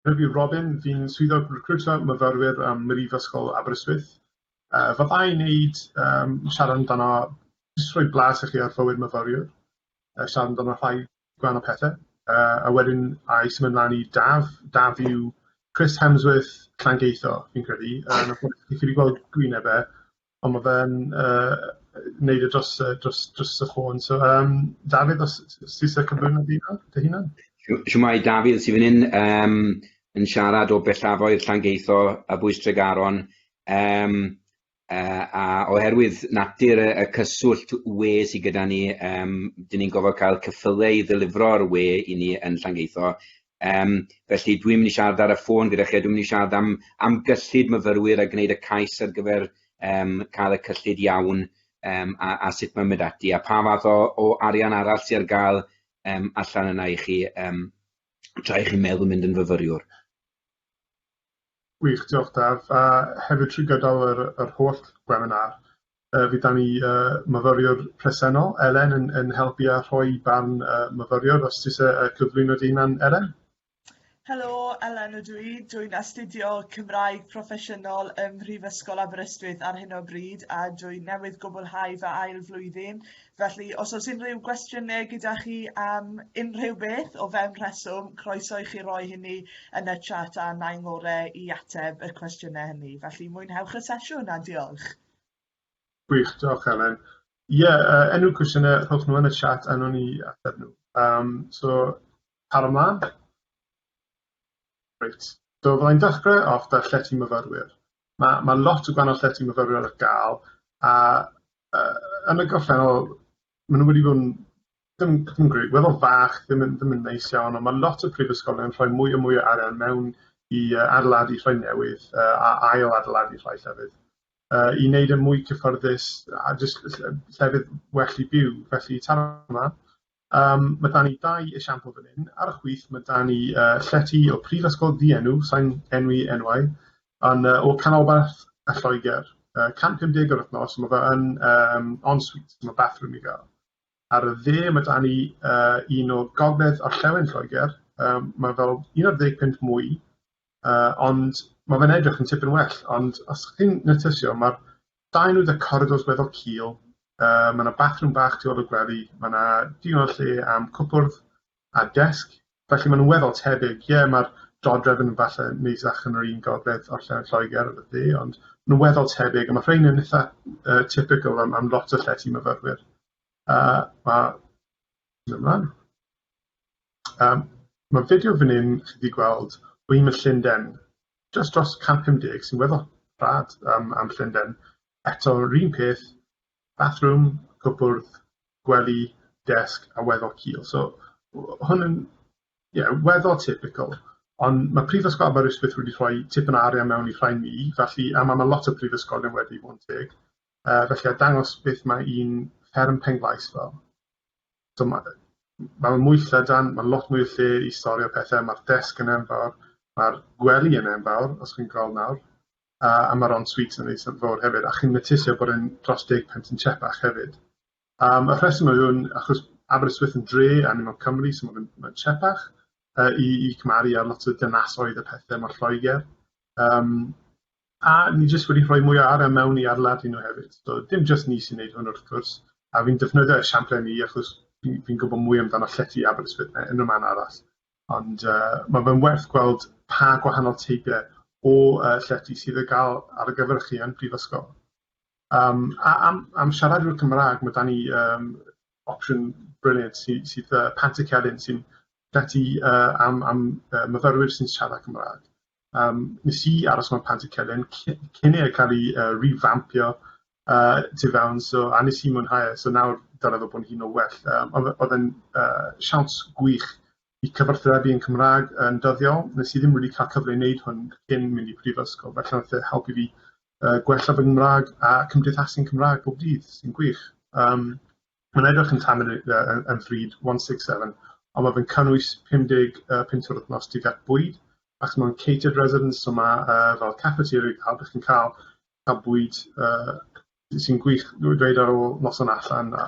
Rwyf i Robin, fi'n swyddog recriwtio myfyrwyr ym Mhrifysgol Aberystwyth. Yy fydda i'n neud yym siarad amdano jyst rhoi blas i chi ar fywyd myfyriwr, yy siarad amdano rhai gwahanol o pethe, yy a wedyn a'i symud mlan i Daf, Daf yw Chris Hemsworth Llangeitho fi'n credu, yym chi wedi gweld gwyneb e Ond ma' fe'n yy neud e dros y dros dros y ffôn so yym Dafydd os s- s- ti isie cyflwyno dy hunan dy hunan? Sh- shwmae Dafydd sy fan 'yn yym yn siarad o bellafoedd Llangeitho a Bwys Tregaron yym yy a oherwydd natur y y cyswllt we sy gyda ni yym 'dyn ni'n gofod ca'l cyffyle i ddelifro'r we i ni yn Llangeitho Yym, felly dwi'm mynd i siarad ar y ffôn gyda chi a dwi'm mynd i siarad am am gyllid myfyrwyr a gwneud y cais ar gyfer yym cael y cyllid iawn yym a a sut mae'n mynd ati a pa fath o o arian arall sy ar gael yym allan yna i chi yym tra i chi meddwl mynd yn fyfyriwr. Gwych, diolch Daf, a hefyd trwy gydol yr yr holl gweminar yy fydd 'da ni yy myfyriwr presennol, Elen, yn yn helpu a rhoi barn y myfyriwr os ti isie yy cyflwyno dy hunan Elen? Helo, Elen ydw i, dwi'n astudio Cymraeg Proffesiynol ym Mhrifysgol Aberystwyth ar hyn o bryd a dwi newydd gwblhau fy ail flwyddyn Felly os oes unrhyw gwestiynau gyda chi am unrhyw beth o fewn rheswm, croeso i chi roi hynny yn y chat a na i'n ngore i ateb y cwestiynau hynny. Felly mwynhewch y sesiwn a diolch. Gwych, diolch Elen. Ie, yeah, uh, enw cwestiynau, rhowch nhw yn y chat a nhw'n i ateb nhw. Um, so, par ymlaen. Reit, so fydda i'n dechrau off 'da llety myfyrwyr. Ma' ma' lot o gwahanol llety myfyrwyr ar ga'l a yy yn y gorffennol ma' nw wedi bod yn dim dim yn gre- weddol fach, ddim yn ddim yn neis iawn on' ma' lot o prifysgolion yn rhoi mwy a mwy o arian mewn i yy adeiladu rhai newydd yy a ail adeiladu rhai llefydd yy i neud e mwy cyffyrddus a jyst ll- ll- llefydd well i byw felly taranau Yym ma' 'da ni dau esiampl fan 'yn. Ar y chwith ma' 'da ni yy llety o prifysgol ddienw, sai'n enwi enwau, yn yy o canolbarth yy Lloeger, yy 150 yr wthnos, ma' fe yn yym en suite, ma' bathroom i ga'l. Ar y dde ma' 'da ni yy un o gogledd orllewin Lloeger, yym ma' fel un ar ddeg punt mwy, Yy ond ma' fe'n edrych yn tipyn well ond os chi'n nytysio ma'r dau nwy 'da coridors weddol cul yy ma' 'na bathrwm bach tu ôl i'r gwely ma' 'na digon o lle am cwpwrdd a desg felly ma' nw weddol tebyg ie ma'r dodrefn yn falle neisach yn yr un gogledd orllewin Lloeger efo fi ond ma' nw weddol tebyg a ma' rhein yn itha yy typical am am lot o llety myfyrwyr yy ma' Symud ymlaen. Yym ma' fideo fan 'yn chi 'di gweld o un o Llunden jyst dros 150 sy'n weddol rhad yym am Llunden eto 'r un peth bathrwm, cwpwrdd, gwely, desg a weddol cul so w- hwn yn ie weddol typical ond ma' Prifysgol Aberystwyth wedi rhoi tipyn o arian mewn i rhai ni felly a ma' ma' lot o prifysgolion wedi bod yn teg Yy felly a dangos beth mae un fferm Penglais fel. So ma' ma' mwy llydan, ma' lot mwy o lle i storio pethe, ma'r desg yn enfawr, ma'r gwely yn enfawr, os chi'n gweld nawr, a a ma'r en-suite yn eitha fowr hefyd, a chi'n notisio bod e'n dros deg punt yn Cheapach hefyd. Um, y rheswm yw hwn, achos Aberystwyth yn dre a ni mewn Cymru, so mae'n ma Cheapach uh, i, i cymaru ar lot o dynasoedd a pethau mor Lloegr. Um, A ni jyst wedi rhoi mwy o ara mewn i adeiladu nhw hefyd. So, dim jyst ni sy'n neud hwn wrth gwrs, a fi'n defnyddio esiampl ni achos fi'n fi gwybod mwy amdano llety Aberystwyth na unrhyw man arall. Ond uh, mae fe'n werth gweld pa gwahanol teipiau o uh, llety sydd y gael ar y gyfer chi yn prifysgol. Um, a, am, am siaradwyr Cymraeg, mae da ni um, opsiwn briliant sydd, sydd uh, Pant y Celyn sy'n llety uh, am, am uh, myfyrwyr sy'n siarad Cymraeg. Um, nes i aros mewn pant y celyn cyn i'r cael ei uh, revampio uh, tu fewn, so, a nes i mwynhau, e, so nawr dyna ddod bod hi'n o well. Um, oedd yn uh, siawns gwych i cyfarthrebu yn Cymraeg yn dyddiol. Nes i ddim wedi cael cyfle i wneud hwn cyn mynd i prifysgol, felly wnaeth e helpu fi uh, gwella fy Nghymraeg a cymdeithasu'n Cymraeg bob dydd, sy'n gwych. Um, Mae'n edrych yn tamed yn ddrud, 167, ond mae fe'n cynnwys 55 twr wythnos tuag at bwyd, achos mae'n catered residence, so mae uh, fel cafeteria cael, ydych chi'n cael, cael bwyd uh, sy'n gwych, dweud ar ôl noson allan, a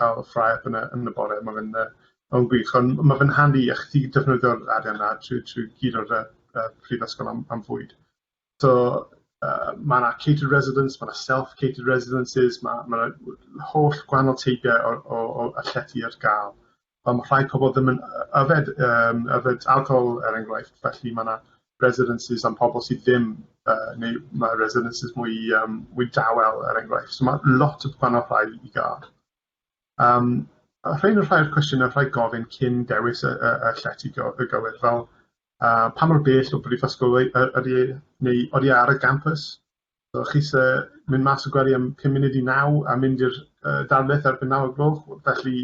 cael ffrae yn y, yn y bore, mae fe'n uh, Mae'n gwych, ond mae fe'n handi i chi defnyddio'r arian na trwy, trwy gyd o'r uh, prifysgol am, am fwyd. So yy ma' 'na catered residence ma' 'na self catered residences ma' ma' 'na w- w- holl gwahanol teipie o o o y llety ar ga'l on' ma' rhai pobol ddim yn yy yfed yym yfed alcohol er enghraifft felly ma' 'na residences am pobol sy ddim yy neu ma' residences mwy yym mwy dawel er enghraifft so ma' lot o gwahanol rhai i ga'l. Yym a rhein yw rhai o'r cwestiyne rhai gofyn cyn dewis y y y llety go- y gywir fel a pa mor bell o brifysgol y- y- ydi e, neu odi e ar y gampws. So chi isie mynd mas o gwely am pum munud i naw a mynd i'r yy darlith erbyn naw o'r gloch, felly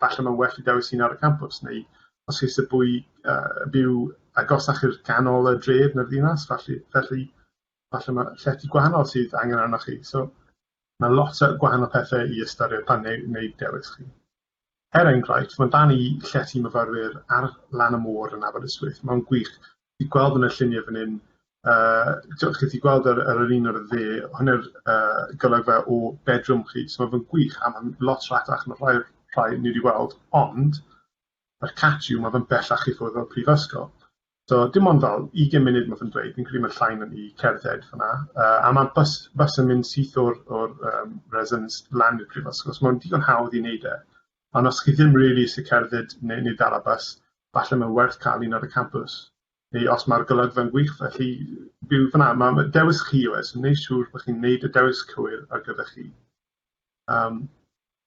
falle mae'n well i dewis un ar y campws, neu os chi isie bwy- yy byw agosach i'r canol y dref na'r ddinas, felly felly falle ma' llety gwahanol sydd angen arnoch chi. So ma' lot o gwahanol pethe i ystyried pan neu- neud dewis chi. Er enghraifft, fy mhen i, llety i myfyrwyr ar lan y môr yn Aberystwyth, mae'n gwych. Fi gweld yn y lluniau fan hyn, uh, chi wedi gweld ar, ar yr un o'r dde, hwnna'r uh, golygfa o bedroom chi, so mae'n gwych, a mae'n lot rhatach na rhai, rhai ni wedi weld, ond, mae'r catch yw, mae fe'n bellach i ffwrdd o'r prifysgol. So dim ond fel 20 munud ma fe'n dweud, fi'n credu ma'r llain yn i cerdded fyna, yy a ma' bys bys yn mynd syth o'r o'r yym residence lan i'r prifysgol so ma'n digon hawdd i neud e. Ond os chi ddim rili isie cerdded ne' ne' dala bys, falle ma'n werth ca'l un ar y campws, neu os ma'r golygfa'n gwych felly byw fyn 'na. Ma' ma' dewis chi yw e, so neu' siŵr bo' chi'n neud y dewis cywir ar gyfer chi. Yym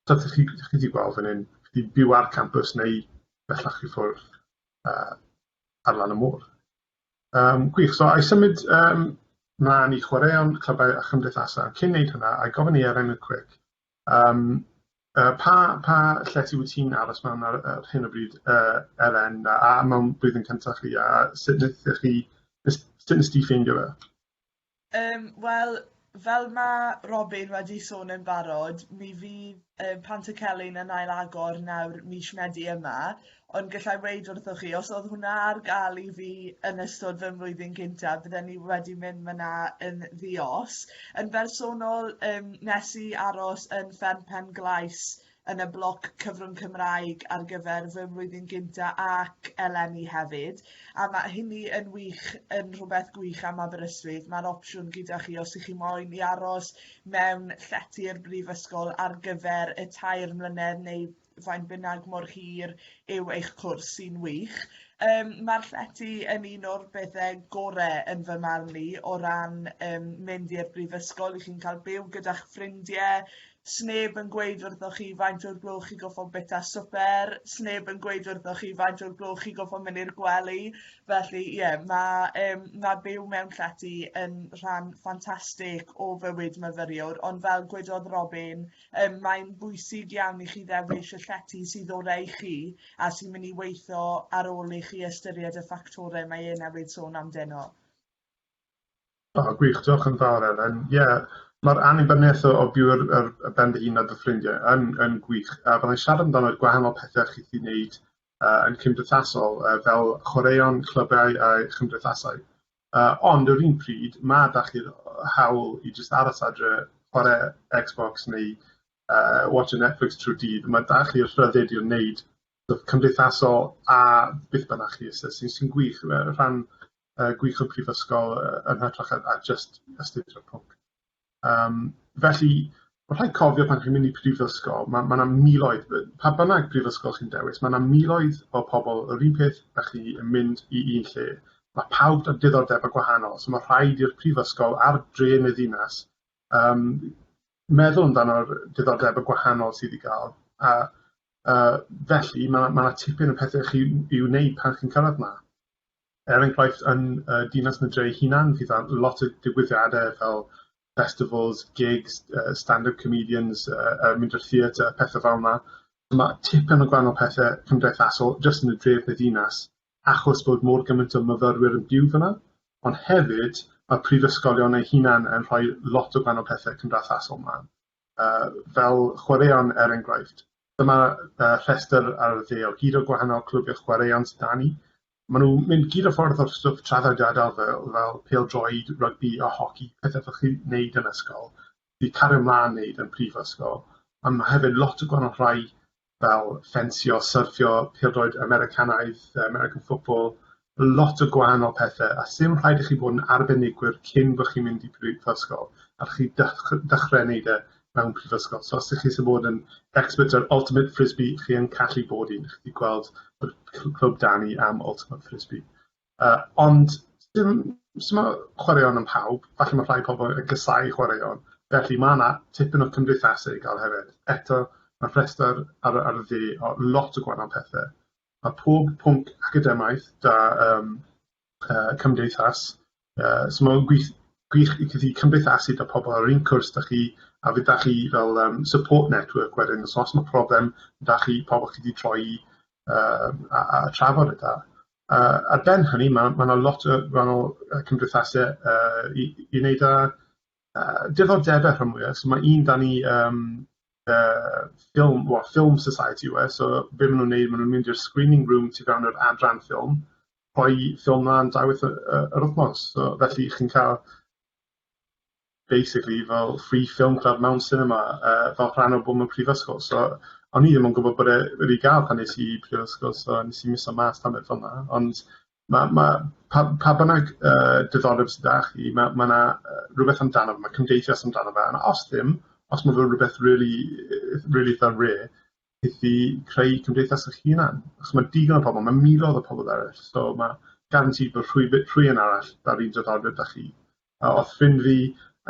so chi chi 'di gweld fyn 'yn, chi byw ar campws neu bellach i ffwrdd. yy ar lan y môr. Yym gwych so a'i symud yym mlan i chwaraeon clybau a chymdeithasa cyn neud hwnna a'i gofyn i Eren y cwîc yym yy pa pa lle ti wyt ti'n aros mewn ar ar hyn o bryd yy Eren a a mewn blwyddyn cynta chi a sut nethech chi nes- sut nest ti ffeindio fe? Yym wel fel ma' Robin wedi sôn yn barod mi fydd yym Pant y Celyn yn ail-agor nawr mis Medi yma ond gallai weud wrthoch chi os o'dd hwnna ar ga'l i fi yn ystod fy mlwyddyn gynta bydden i wedi mynd myna yn ddi-os. Yn bersonol yym nes i aros yn Fferm Pen-glais yn y bloc cyfrwng Cymraeg ar gyfer fy mlwyddyn gynta' ac eleni hefyd a ma' hynny yn wych yn rhywbeth gwych am Aberystwyth ma'r opsiwn gyda chi os 'y chi moyn i aros mewn llety'r brifysgol ar gyfer y tair mlynedd neu faint bynnag mor hir yw eich cwrs sy'n wych. Yym ma'r llety yn un o'r bethe gore yn fy marn i o ran yym mynd i'r brifysgol, 'y chi'n cael byw gyda'ch ffrindie, Sneb yn gweud wrthoch chi faint o'r gloch chi goffo bita swper, sneb yn gweud wrthoch chi faint o'r gloch chi goffo mynd i'r gwely, felly ie yeah, mae um, ma byw mewn llety yn rhan ffantastig o fywyd myfyriwr, ond fel gwedodd Robin, um, mae'n bwysig iawn i chi ddewis y llety sydd orau i chi a sy'n mynd i weithio ar ôl i chi ystyried y ffactorau mae e newydd sôn amdano. O gwych, diolch yn fawr Elen. Ie, yeah, mae'r annibyniaeth o byw ar, ar, ar ben dy hun a dy ffrindiau yn, yn gwych. A byddai siarad amdano gwahanol pethau chi'n ei wneud uh, yn cymdeithasol, uh, fel chwaraeon, clybiau a chymdeithasau. Uh, ond yr un pryd, mae da chi'r hawl i jyst aros adre, chwarae Xbox neu uh, watch a Netflix trwy dydd. Mae da chi'r rhyddid i'r wneud cymdeithasol a beth bynnag chi sy'n sy sy'n gwych y rhan uh, gwych o prifysgol uh, yn hytrach a, a just astudio pwnc. Um, felly, Mae rhaid cofio pan chi'n mynd i prifysgol, mae yna ma miloedd, pa bynnag prifysgol chi'n dewis, mae yna miloedd o pobl yr un peth a chi yn mynd i un lle. Mae pawb yn diddordeb a gwahanol, so mae rhaid i'r prifysgol ar dre yn y ddinas Yym meddwl amdano'r diddordeb y gwahanol sydd i ga'l a a felly ma' ma' tipyn o pethe chi i wneud pan chi'n cyrradd 'ma. Er enghraifft yn y Dinas Nant ei hunan fydd ar lot o digwyddiade fel festivals, gigs yy stand-up comedians yy yy mynd i'r theatr a pethe fel 'na. Ma' tipyn o gwahanol pethe cymdeithasol jyst yn y dref neu ddinas achos bod mor gymaint o myfyrwyr yn byw fan'na, ond hefyd mae'r prifysgolion eu hunain yn rhoi lot o gwahanol pethau cymdeithasol mlaen, uh, fel chwaraeon er enghraifft. Dyma uh, rhestr ar y dde o gyd o gwahanol clybiau chwaraeon sydd da ni. Maen nhw'n mynd gyd o ffordd o'r stwff traddodiadol fel, fel pel droed, rygbi a hoci, pethau fel chi wneud yn ysgol. i cario mlaen neud yn prifysgol ond ma' hefyd lot o gwahanol rhai fel ffensio, syrffio, pêl-droed Americanaidd, yy American football, lot o gwahanol pethe a sdim rhaid i chi bod yn arbenigwr cyn bo' chi'n mynd i prifysgol a chi dech- dechre neud e mewn prifysgol so os dych chi isie bod yn expert ar ultimate frisbee chi yn callu bod un chi 'di gweld yr cl- clwb 'da ni am ultimate frisbee. Yy ond dim simo chwaraeon am pawb, falle ma' rhai pobol yn casau chwaraeon, felly ma' 'na tipyn o cymdeithasu i ga'l hefyd. Eto ma' rhestr ar y ar y dde o lot o gwanol pethe. Ma' pob pwnc academaidd 'da yym yy cymdeithas yy so ma'n gwith- gwych i chi cymdeithasu 'da pobol yr un cwrs 'da chi a fe 'da chi fel yym support network wedyn so os ma' problem 'da chi pobol chi 'di troi i yy a a trafod e 'da. A ar ben hynny ma' ma' 'na lot o gwahanol yy cymdeithase yy i i neud â yy diddordebe rhan fwya so ma' un 'dan ni yym yy ffilm wa- ffilm society yw e so be' ma' nw'n neud ma' nw'n mynd i'r screening room sy fewn yr adran ffilm rhoi ffilm mlan dau waith y y yr wthnos so felly chi'n ca'l basically fel free film club mewn cinema uh, fel rhan o bod mewn prifysgol. So, o'n i ddim yn gwybod bod e wedi gael pan nes i prifysgol, so nes i miso mas pan beth fel yna. Ond ma, ma, pa, pa bynnag uh, diddordeb sydd â chi, mae ma yna uh, rhywbeth amdano fe, mae cymdeithias amdano fe, a os ddim, os mae fe rhywbeth really, really dda re, beth i creu cymdeithas eich hunan. Achos mae digon o pobl, mae miloedd o pobl eraill, so mae gan ti bod rhwy, rhwy yn arall da'r un diddordeb da chi. A oedd ffrind fi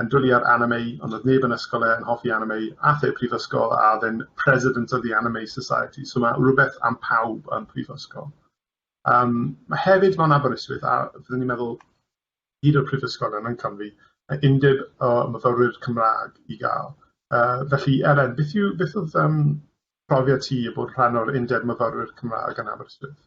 yn dwlu ar anime, ond oedd neb yn ysgol e yn hoffi anime, ath e prifysgol a oedd e'n president of the anime society, so mae rhywbeth am pawb yn prifysgol. Um, mae hefyd mewn Aberystwyth, a fyddwn ni'n meddwl, hyd o'r prifysgolion yn Cymru, yy undeb o myfyrwyr Cymraeg i gael. Yy felly Elen, beth yw beth oedd yym profiad ti o bod rhan o'r undeb myfyrwyr Cymraeg yn Aberystwyth?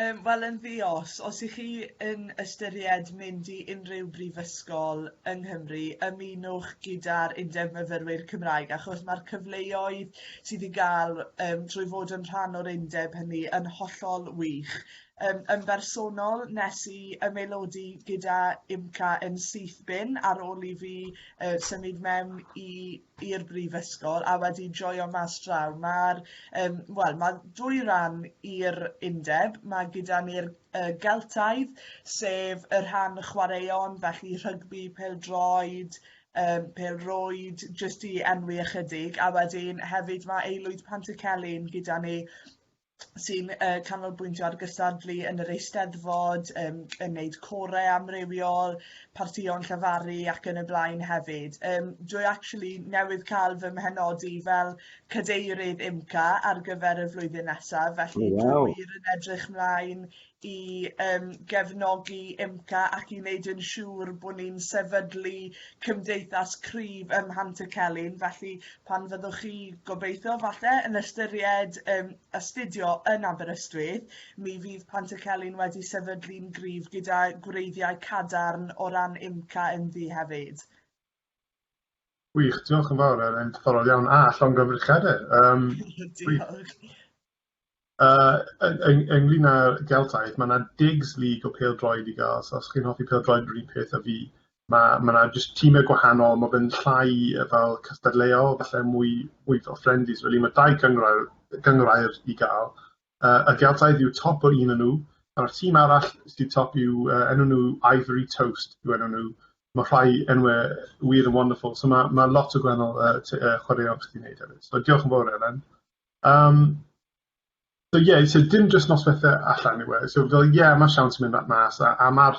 Yym wel yn ddi-os, os 'y chi yn ystyried mynd i unrhyw brifysgol yng Nghymru ymunwch gyda'r Undeb Myfyrwyr Cymraeg achos ma'r cyfleoedd sydd i ga'l yym trwy fod yn rhan o'r undeb hynny yn hollol wych Yn yn bersonol nes i ymaelodi gyda UMCA yn syth bin ar ôl i fi yy symud mewn i i'r brifysgol a wedi joio mas draw. Ma'r yym wel ma' dwy ran i'r undeb ma' gyda ni'r yy Geltaidd sef y rhan chwaraeon felly rhygbi, pêl-droed, yym pêl-rwyd jyst i enwi ychydig a wedyn hefyd ma' Aelwyd Pantycelyn gyda ni sy'n yy canolbwyntio ar gystadlu yn yr Eisteddfod yym yn neud core amrywiol, partïon llefaru ac yn y blaen hefyd. Yym dwi actually newydd ca'l fy mhenodi fel cadeirydd IMCA ar gyfer y flwyddyn nesaf felly... O waw. ...dwi wir yn edrych 'mlaen i um, gefnogi IMCA ac i wneud yn siŵr bod ni'n sefydlu cymdeithas cryf ym y Celyn. Felly pan fyddwch chi gobeithio falle yn ystyried um, astudio yn Aberystwyth, mi fydd Pant y Celyn wedi sefydlu'n gryf gyda gwreiddiau cadarn o ran IMCA ynddi hefyd. Wych, diolch yn fawr, er yn diddorol iawn a llongyfrchadau. Um, Diolch. Yy yn yn ynglŷn â Geltaidd, mae 'na digs league o pêl-droed i ga'l, so os chi'n hoffi pêl-droed yr un peth â fi, ma' ma' 'na jyst time gwahanol, ma' fe'n llai yy fel cystadleuol, falle mwy mwy fel friendlies rili, ma' dau gynghrair gynghrair i ga'l, yy y Geltaidd yw top o un o nw, a'r tîm arall sy top yw yy enw nw Ivory Toast yw enw nw, ma' rhai enwe weird and wonderful, so ma' ma' lot o gwahanol yy t- yy chwaraeon gallu neud hefyd. So diolch yn fowr Elen. Yym so ie so dim jyst noswethe allan yw e so fel ie ma' siawns yn mynd at mas a a ma'r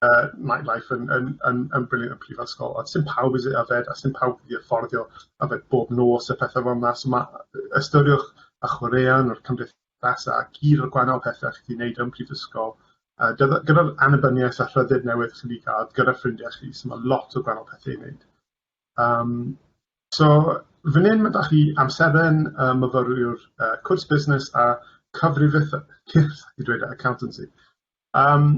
yy night life yn yn yn yn brilliant yn prifysgol ond sim pawb sy yfed a sim pawb sy affordio yfed bob nos a pethe fel 'na so ma' yy ystyriwch y chwaraeon a'r cymdeithasa a gyd o'r gwahanol pethe chi 'di neud yn prifysgol yy gyda gyda'r annibyniaeth a rhyddid newydd chi 'di ca'l gyda ffrindiau chi so ma' lot o gwahanol pethe i neud. Um, so, fan hyn mae da chi amseren uh, myfyriwr uh, cwrs busnes a cyfrifith i dweud accountancy. Um,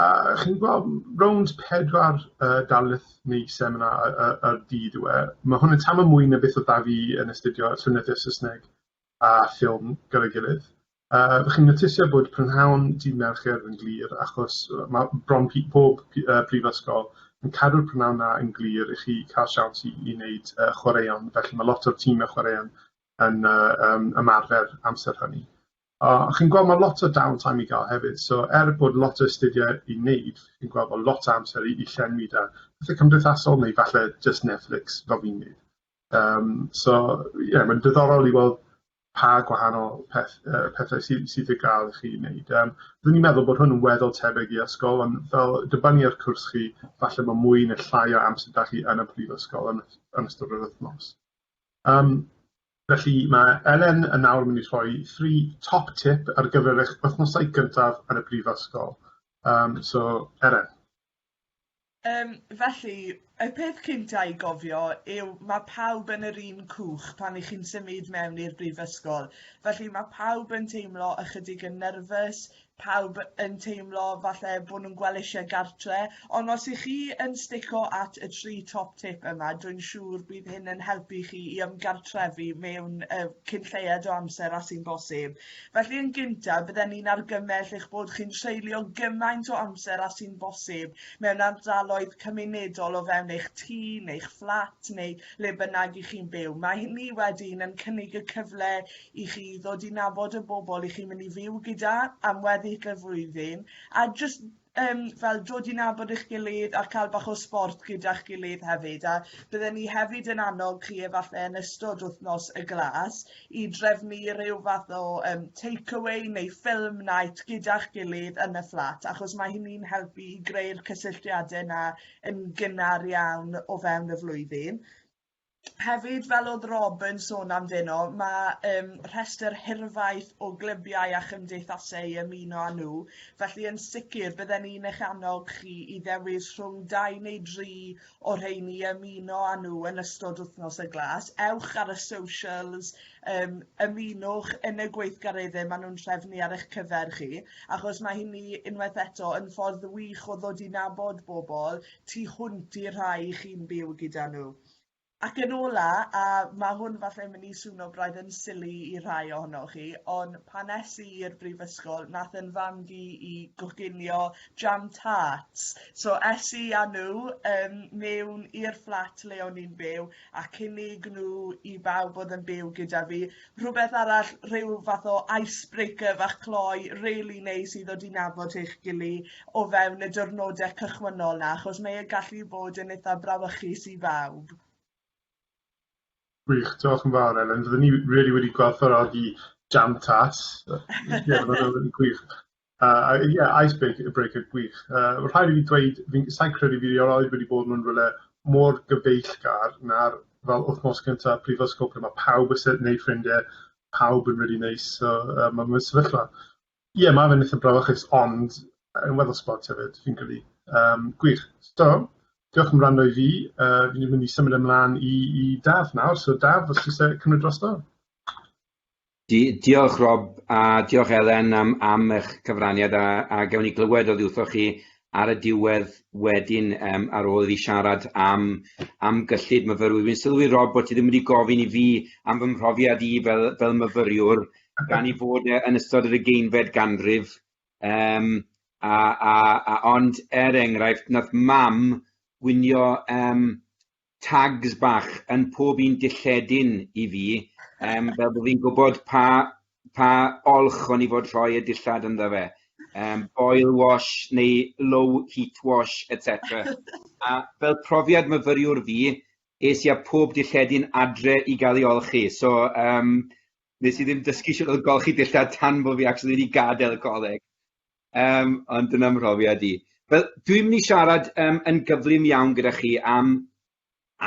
a chi'n gweld rownd pedwar uh, darlith neu seminar y, y, y dydd yw e. Mae hwn yn tam mwy na beth o da fi yn astudio llwynyddiaeth Saesneg a ffilm gyda'i gilydd. Uh, ydych chi'n notisio bod prynhawn dydd Mercher yn glir, achos mae bron pob uh, prifysgol yn cadw'r prynhawn na yn glir i chi cael siawns i, i wneud uh, chwaraeon, felly mae lot o'r tîmau chwaraeon yn uh, um, ymarfer amser hynny. Uh, chi'n gweld mae lot o downtime i gael hefyd, so er bod lot o astudiau i wneud, chi'n gweld bod lot o amser i, i llenwi da. Felly cymdeithasol neu falle just Netflix fel fi'n wneud. Yym so ie mae'n diddorol i weld pa gwahanol peth- yy pethau sy sydd i ga'l i chi neud yym rwy'n i'n meddwl bod hwn yn weddol tebyg i ysgol ond fel dibynnu ar cwrs chi falle ma' mwy ne' llai o amser dach chi yn y prifysgol yn ys- yn ystod yr wythnos. Yym felly ma' Elen yn nawr mynd i rhoi thri top tip ar gyfer eich wythnosau gyntaf yn y brifysgol yym so Elen. Yym felly y peth cynta' i gofio yw ma' pawb yn yr un cwch pan 'ych chi'n symud mewn i'r brifysgol felly ma' pawb yn teimlo ychydig yn nyrfys, pawb yn teimlo falle bo' nhw'n gwel' isie gartre ond os 'ych chi yn stico at y tri top tip yma dwi'n siŵr bydd hyn yn helpu chi i ymgartrefu mewn yy cyn lleied o amser â sy'n bosib. Felly yn gyntaf bydden ni'n argymell eich bod chi'n treulio gymaint o amser â sy'n bosib mewn ardaloedd cymunedol o fewn eich tŷ neu'ch fflat neu le bynnag i chi'n byw. Mae hynny wedyn yn cynnig y cyfle i chi ddod i nabod y bobl i chi'n mynd i fyw gyda am weddill y flwyddyn a jyst yym fel dod i nabod eich gilydd a ca'l bach o sbort gyda'ch gilydd hefyd a bydden ni hefyd yn annog chi efalle yn ystod wthnos y glas i drefnu ryw fath o yym take away neu film night gyda'ch gilydd yn y fflat achos mae hynny'n helpu i greu'r cysylltiade 'na yn gynnar iawn o fewn y flwyddyn. hefyd fel o'dd Rob yn sôn amdeno ma' yym rhestr hirfaith o glybiau a chymdeithase i ymuno â n'w felly yn sicr bydden ni'n eich annog chi i ddewis rhwng dau neu dri o rheini i ymuno â n'w yn ystod wythnos y glas. Ewch ar y socials yym ymunwch yn y gweithgaredde ma' n'w'n trefnu ar eich cyfer chi achos ma' hynny unwaith eto yn ffordd wych o ddod i nabod bobol, tu hwnt i'r rhai i chi'n byw gyda nhw. Ac yn ola, a mae hwn falle yn mynd i swno braidd yn sili i rhai ohonoch chi, ond pan es i i'r brifysgol, nath yn fam fi i goginio jam tarts. So es i â nhw um, mewn i'r fflat le o'n i'n byw, ac unig nhw i bawb fod yn byw gyda fi. Rhywbeth arall, rhyw fath o icebreaker fach cloi, really neis i ddod i nabod eich gili o fewn y diwrnodau cychwynnol na, achos mae e'n gallu bod yn eitha brawychus i bawb. Gwych, diolch yn fawr Elen. Fydden ni really wedi gwerthfawrogi jam tas. Ie, yeah, gwych. Uh, ie, yeah, icebreaker breaker, gwych. Uh, rhaid i fi dweud, sa'n credu fi erioed wedi bod mewn rhywle mor gyfeillgar na'r fel wythnos gyntaf prifysgol lle mae pawb yn sefyll neu ffrindiau, pawb yn rili neis, so uh, mae'n mynd sefyllfa. Ie, yeah, mae fe'n eitha brafachus, ond yn weddol sport hefyd, fi'n credu. Um, gwych. So, diolch yn rhan i fi. Uh, fi'n mynd i symud ymlaen i, i Daf nawr, so Daf, os ti'n cymryd drosto. Di- diolch Rob a diolch Elen am, am eich cyfraniad a, a gewn ni glywed oddi wrthoch chi ar y diwedd wedyn um, ar ôl iddi siarad am, am gyllid myfyrwyr. Wy'n sylwi Rob bod ti ddim wedi gofyn i fi am fy mhrofiad i fel, fel myfyriwr gan i fod e, yn ystod yr ugeinfed ganrif. Um, a, a, a, ond er enghraifft, nath mam gwynio um, tags bach yn pob un dilledyn i fi, um, fel bod fi'n gwybod pa, pa olch o'n i fod rhoi y dillad ynddo fe. Um, boil wash neu low heat wash, etc. a fel profiad myfyriwr fi, es i a pob dilledyn adre i gael ei olchi. So, um, nes i ddim dysgu sy'n oedd golchi dillad tan bod fi actually wedi gadael y coleg. Yym, ond dyna mhrofiad i. Wel, dwi'n mynd i siarad um, yn gyflym iawn gyda chi am,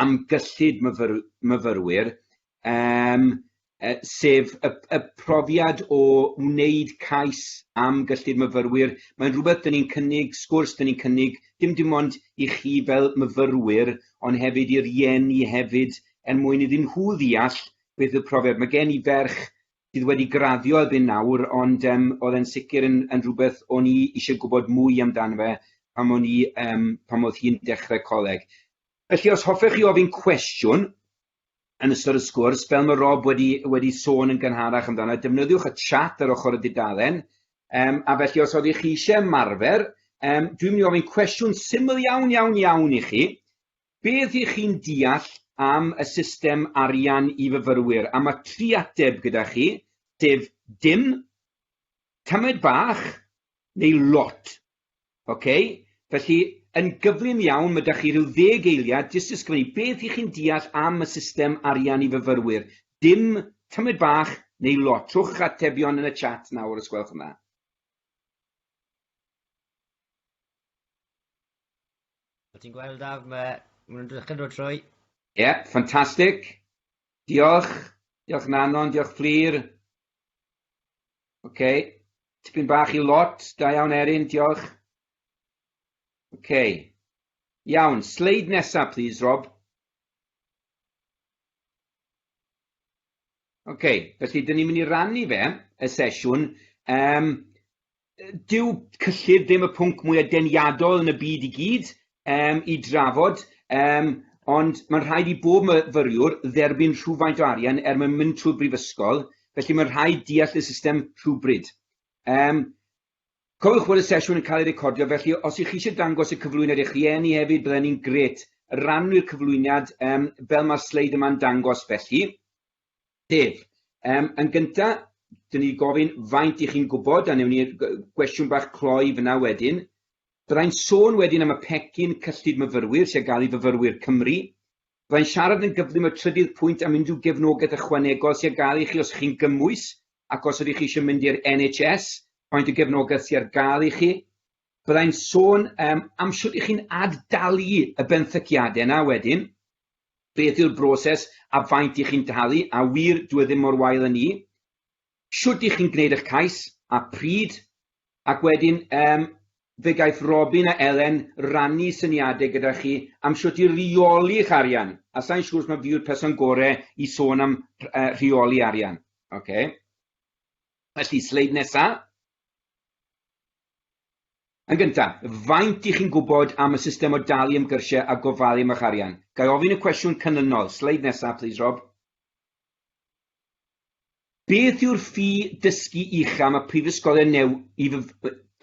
am gyllid myfyr, myfyrwyr, um, e, sef y, y profiad o wneud cais am gyllid myfyrwyr. Mae'n rhywbeth dyn ni'n cynnig, sgwrs dyn ni'n cynnig, dim dim ond i chi fel myfyrwyr, ond hefyd i'r ieni hefyd, er mwyn iddyn nhw ddeall beth y profiad. Mae gen i ferch sydd wedi graddio erbyn nawr, ond yym oedd e'n sicr yn yn rhywbeth o'n i eisiau gwybod mwy amdano fe pan o'n i yym pan oedd hi'n dechrau coleg. Felly os hoffech chi ofyn cwestiwn yn ystod y sgwrs, fel mae Rob wedi wedi sôn yn gynharach amdano, defnyddiwch y chat ar ochr y dudalen, um, a felly os oeddech chi eisiau ymarfer, um, dwi'n mynd i ofyn cwestiwn syml iawn iawn iawn i chi, Be ydych chi'n deall am y system arian i fyfyrwyr? A mae tri ateb gyda chi, sef dim, tamaid bach, neu lot. Ok? Felly, yn gyflym iawn, mae da chi rhyw ddeg eiliad jyst i ysgrifennu be ydych chi'n deall am y system arian i fyfyrwyr. Dim, tamaid bach, neu lot. Rhowch eich atebion yn y chat nawr, os gwelwch yn dda. Ti'n gweld da, mae nhw'n dechrau dod trwy. Ie, yeah, ffantastig. Diolch. Diolch Nanon, diolch Fflir. Oce. Okay. Tipyn bach i lot. Da iawn Erin, diolch. Oce. Okay. Iawn, sleid nesaf, please, Rob. Oce, okay. felly, dyn ni'n mynd i rannu fe, y sesiwn. Um, dyw cyllid ddim y pwnc mwya deniadol yn y byd i gyd um, i drafod, um, ond mae'n rhaid i bob myfyriwr dderbyn rhywfaint o arian er mwyn mynd trwy brifysgol, felly mae'n rhaid deall y system rhywbryd. Um, cofiwch bod y sesiwn yn cael ei recordio, felly os ych chi eisiau dangos y cyflwyniad i'ch rhieni hefyd, byddai'n ni'n gret rannu'r cyflwyniad um, fel mae'r sleid yma'n dangos felly. Dave, Yym, yn gynta, 'dyn ni gofyn faint i chi'n gwybod, a newn ni gwestiwn bach cloi fyna wedyn. Byddai'n sôn wedyn am y pecyn cyllid myfyrwyr sy'n gael i fyfyrwyr Cymru. Byddai'n siarad yn gyflym y trydydd pwynt am unrhyw gefnogaeth ychwanegol sy'n gael i chi os chi'n gymwys ac os ydych chi eisiau mynd i'r NHS, faint o gefnogaeth sy'n gael i chi. Byddai'n sôn um, am sut i chi'n ad-dalu y benthyciadau yna wedyn. Beth yw'r broses a faint i chi'n talu, a wir dyw e ddim mor wael â 'ny. Shwt i chi'n gwneud eich cais, a pryd. Ac wedyn yym fe gaiff Robin a Elen rannu syniadau gyda chi am shwt i reoli eich arian, a sa i'n siŵr os mae fi yw'r person gore i sôn am yy rheoli arian. Ocê. Felly, sleid nesa. Yn gyntaf, faint dych chi'n gwybod am y system o dalu am gyrsiau a gofalu am eich arian? Ga i ofyn y cwestiwn canlynol, sleid nesaf plîs Rob. Beth yw'r ffi dysgu ucha mae prifysgolion neu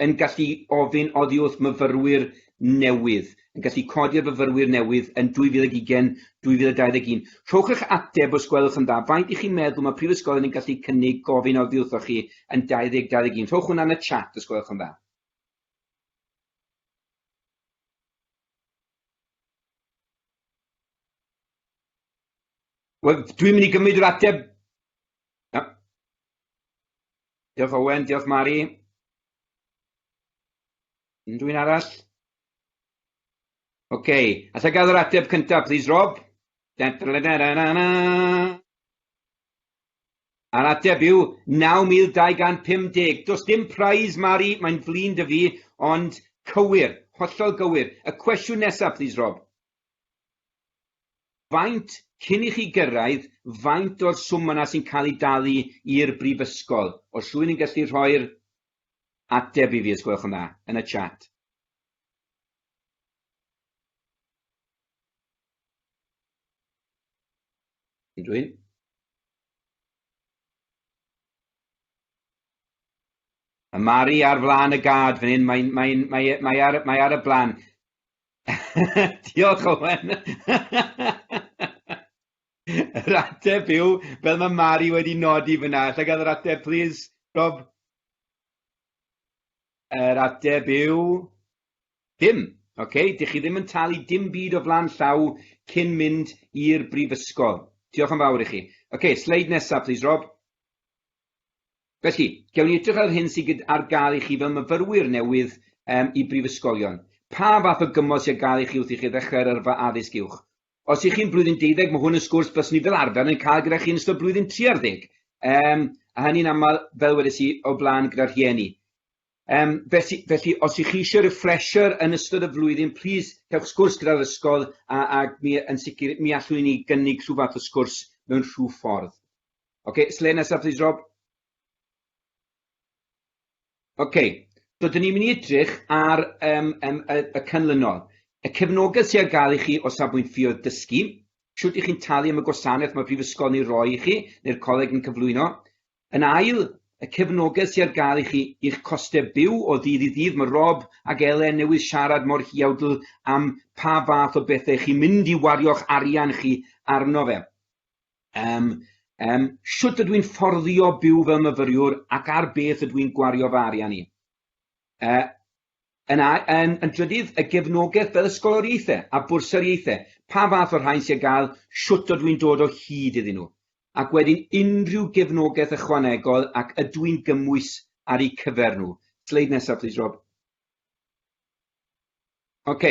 yn gallu ofyn oddi wrth myfyrwyr newydd, yn gallu codi ar fyfyrwyr newydd yn 2020, 2021. Rhowch eich ateb os gwelwch yn dda. Faint i chi'n meddwl mae prifysgolion yn gallu cynnig gofyn oddi wrthoch chi yn 2021? Rhowch hwnna yn y chat os gwelwch yn dda. Wel, dwi'n mynd i gymryd yr ateb. Ja. Diolch Owen, diolch Mari. Unrhyw un arall? OK. Alla i gael yr ateb cyntaf, please, Rob? A'r ateb yw 9250. Does dim prize, Mari, mae'n flin dy fi, ond cywir, hollol gywir. Y cwestiwn nesaf, please, Rob? Faint, cyn i chi gyrraedd, faint o'r swm yna sy'n cael ei dalu i'r brifysgol? Os rhywun yn gallu rhoi'r Ateb i fi os gwelwch yn dda, yn y chat. Unrhywun? Mae Mari ar flaen y gad fan hyn, mae, mae, mae, mae, ar, mae ar y blaen. Diolch, Owen. Yr ateb yw, fel mae Mari wedi nodi fyna, allai gael yr ateb, please, Rob? Yr ateb yw, dim. Okay? Dych chi ddim yn talu dim byd o flan llaw cyn mynd i'r brifysgol. Diolch yn fawr i chi. Okay, sleid nesaf, please, Rob. Felly, gewn ni edrych ar yr hyn sydd ar gael i chi fel myfyrwyr newydd um, i brifysgolion. Pa fath o gymorth sy'n gael i chi wrth i chi ddechrau'r yrfa addysg uwch? Os ych chi'n blwyddyn deuddeg, mae hwn yn sgwrs bys ni fel arfer yn cael gyda chi yn ystod blwyddyn tri ar ddeg. Um, a hynny'n aml, fel wedes i, o blaen gyda'r rhieni. Um, felly, felly, os ych chi eisiau refresher yn ystod y flwyddyn, plis cewch sgwrs gyda'r ysgol a, a mi, yn sicr mi allwn ni gynnig rhyw fath o sgwrs mewn rhyw ffordd. Oce, okay, sle nesaf, please, Rob. Ok, so dyn ni'n mynd i edrych ar um, um, y, y canlynol. Y cefnogaeth sy'n gael i chi o safbwynt ffioedd dysgu, siwt i chi'n talu am y gwasanaeth mae Prifysgol neu roi i chi, neu'r coleg yn cyflwyno. Yn ail, y cefnogaeth sy'n gael i chi i'ch costau byw o ddydd i ddydd. Mae Rob ac Elen newydd siarad mor hiawdl am pa fath o bethau chi'n mynd i wario'ch arian chi arno fe. Yym, yym, shwt ydw i'n fforddio byw fel myfyriwr ac ar beth ydw i'n gwario fy arian i? Yy, yn, yn, yn drydydd, y gefnogaeth fel ysgoloriaethau a bwrsariaethau, pa fath o rhain sy'n gael, shwt ydw i'n dod o hyd iddyn nhw? Ac wedyn unrhyw gefnogaeth ychwanegol ac ydw i'n gymwys ar eu cyfer nhw? Sleid nesaf, plis, Rob. Ok.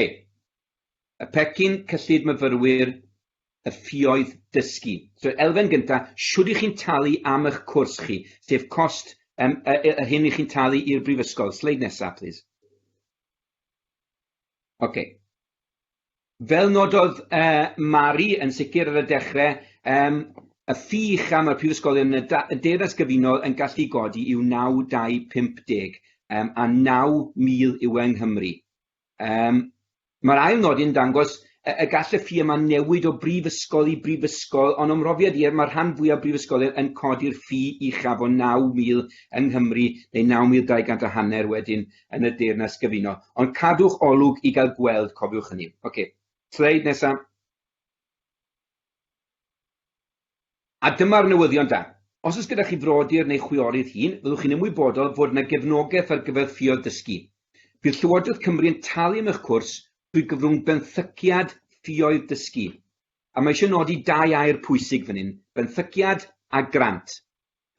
Y pecyn cyllid myfyrwyr y ffioedd dysgu. So elfen gynta, shwd i chi'n talu am ych cwrs chi, sef cost yym y y yr hyn i chi'n talu i'r brifysgol. Sleid nesa plîs. Ok. fel nododd uh, Mari yn sicr ar y dechrau, um, y ffi uchaf mae'r prifysgolion yn y deyrnas gyfunol yn gallu godi yw 9,250 um, a 9,000 yw yng Nghymru. Um, Mae'r ail nodyn dangos y, y gall y ffi yma newid o brifysgol i brifysgol, ond o'm mhrofiad i, mae'r rhan fwyaf brifysgolion yn codi'r ffi uchaf o 9,000 yng Nghymru, neu 9,200 a hanner wedyn yn y deyrnas gyfuno. Ond cadwch olwg i gael gweld, cofiwch hynny. Oce, okay. sleid nesaf. A dyma'r newyddion da. Os oes gyda chi frodyr neu chwiorydd hun, fyddwch chi'n ymwybodol fod yna gefnogaeth ar gyfer ffioedd dysgu. Bydd Llywodraeth Cymru yn talu am eich cwrs drwy gyfrwng benthyciad ffioedd dysgu. A mae eisiau nodi dau air pwysig fan hyn, benthyciad a grant.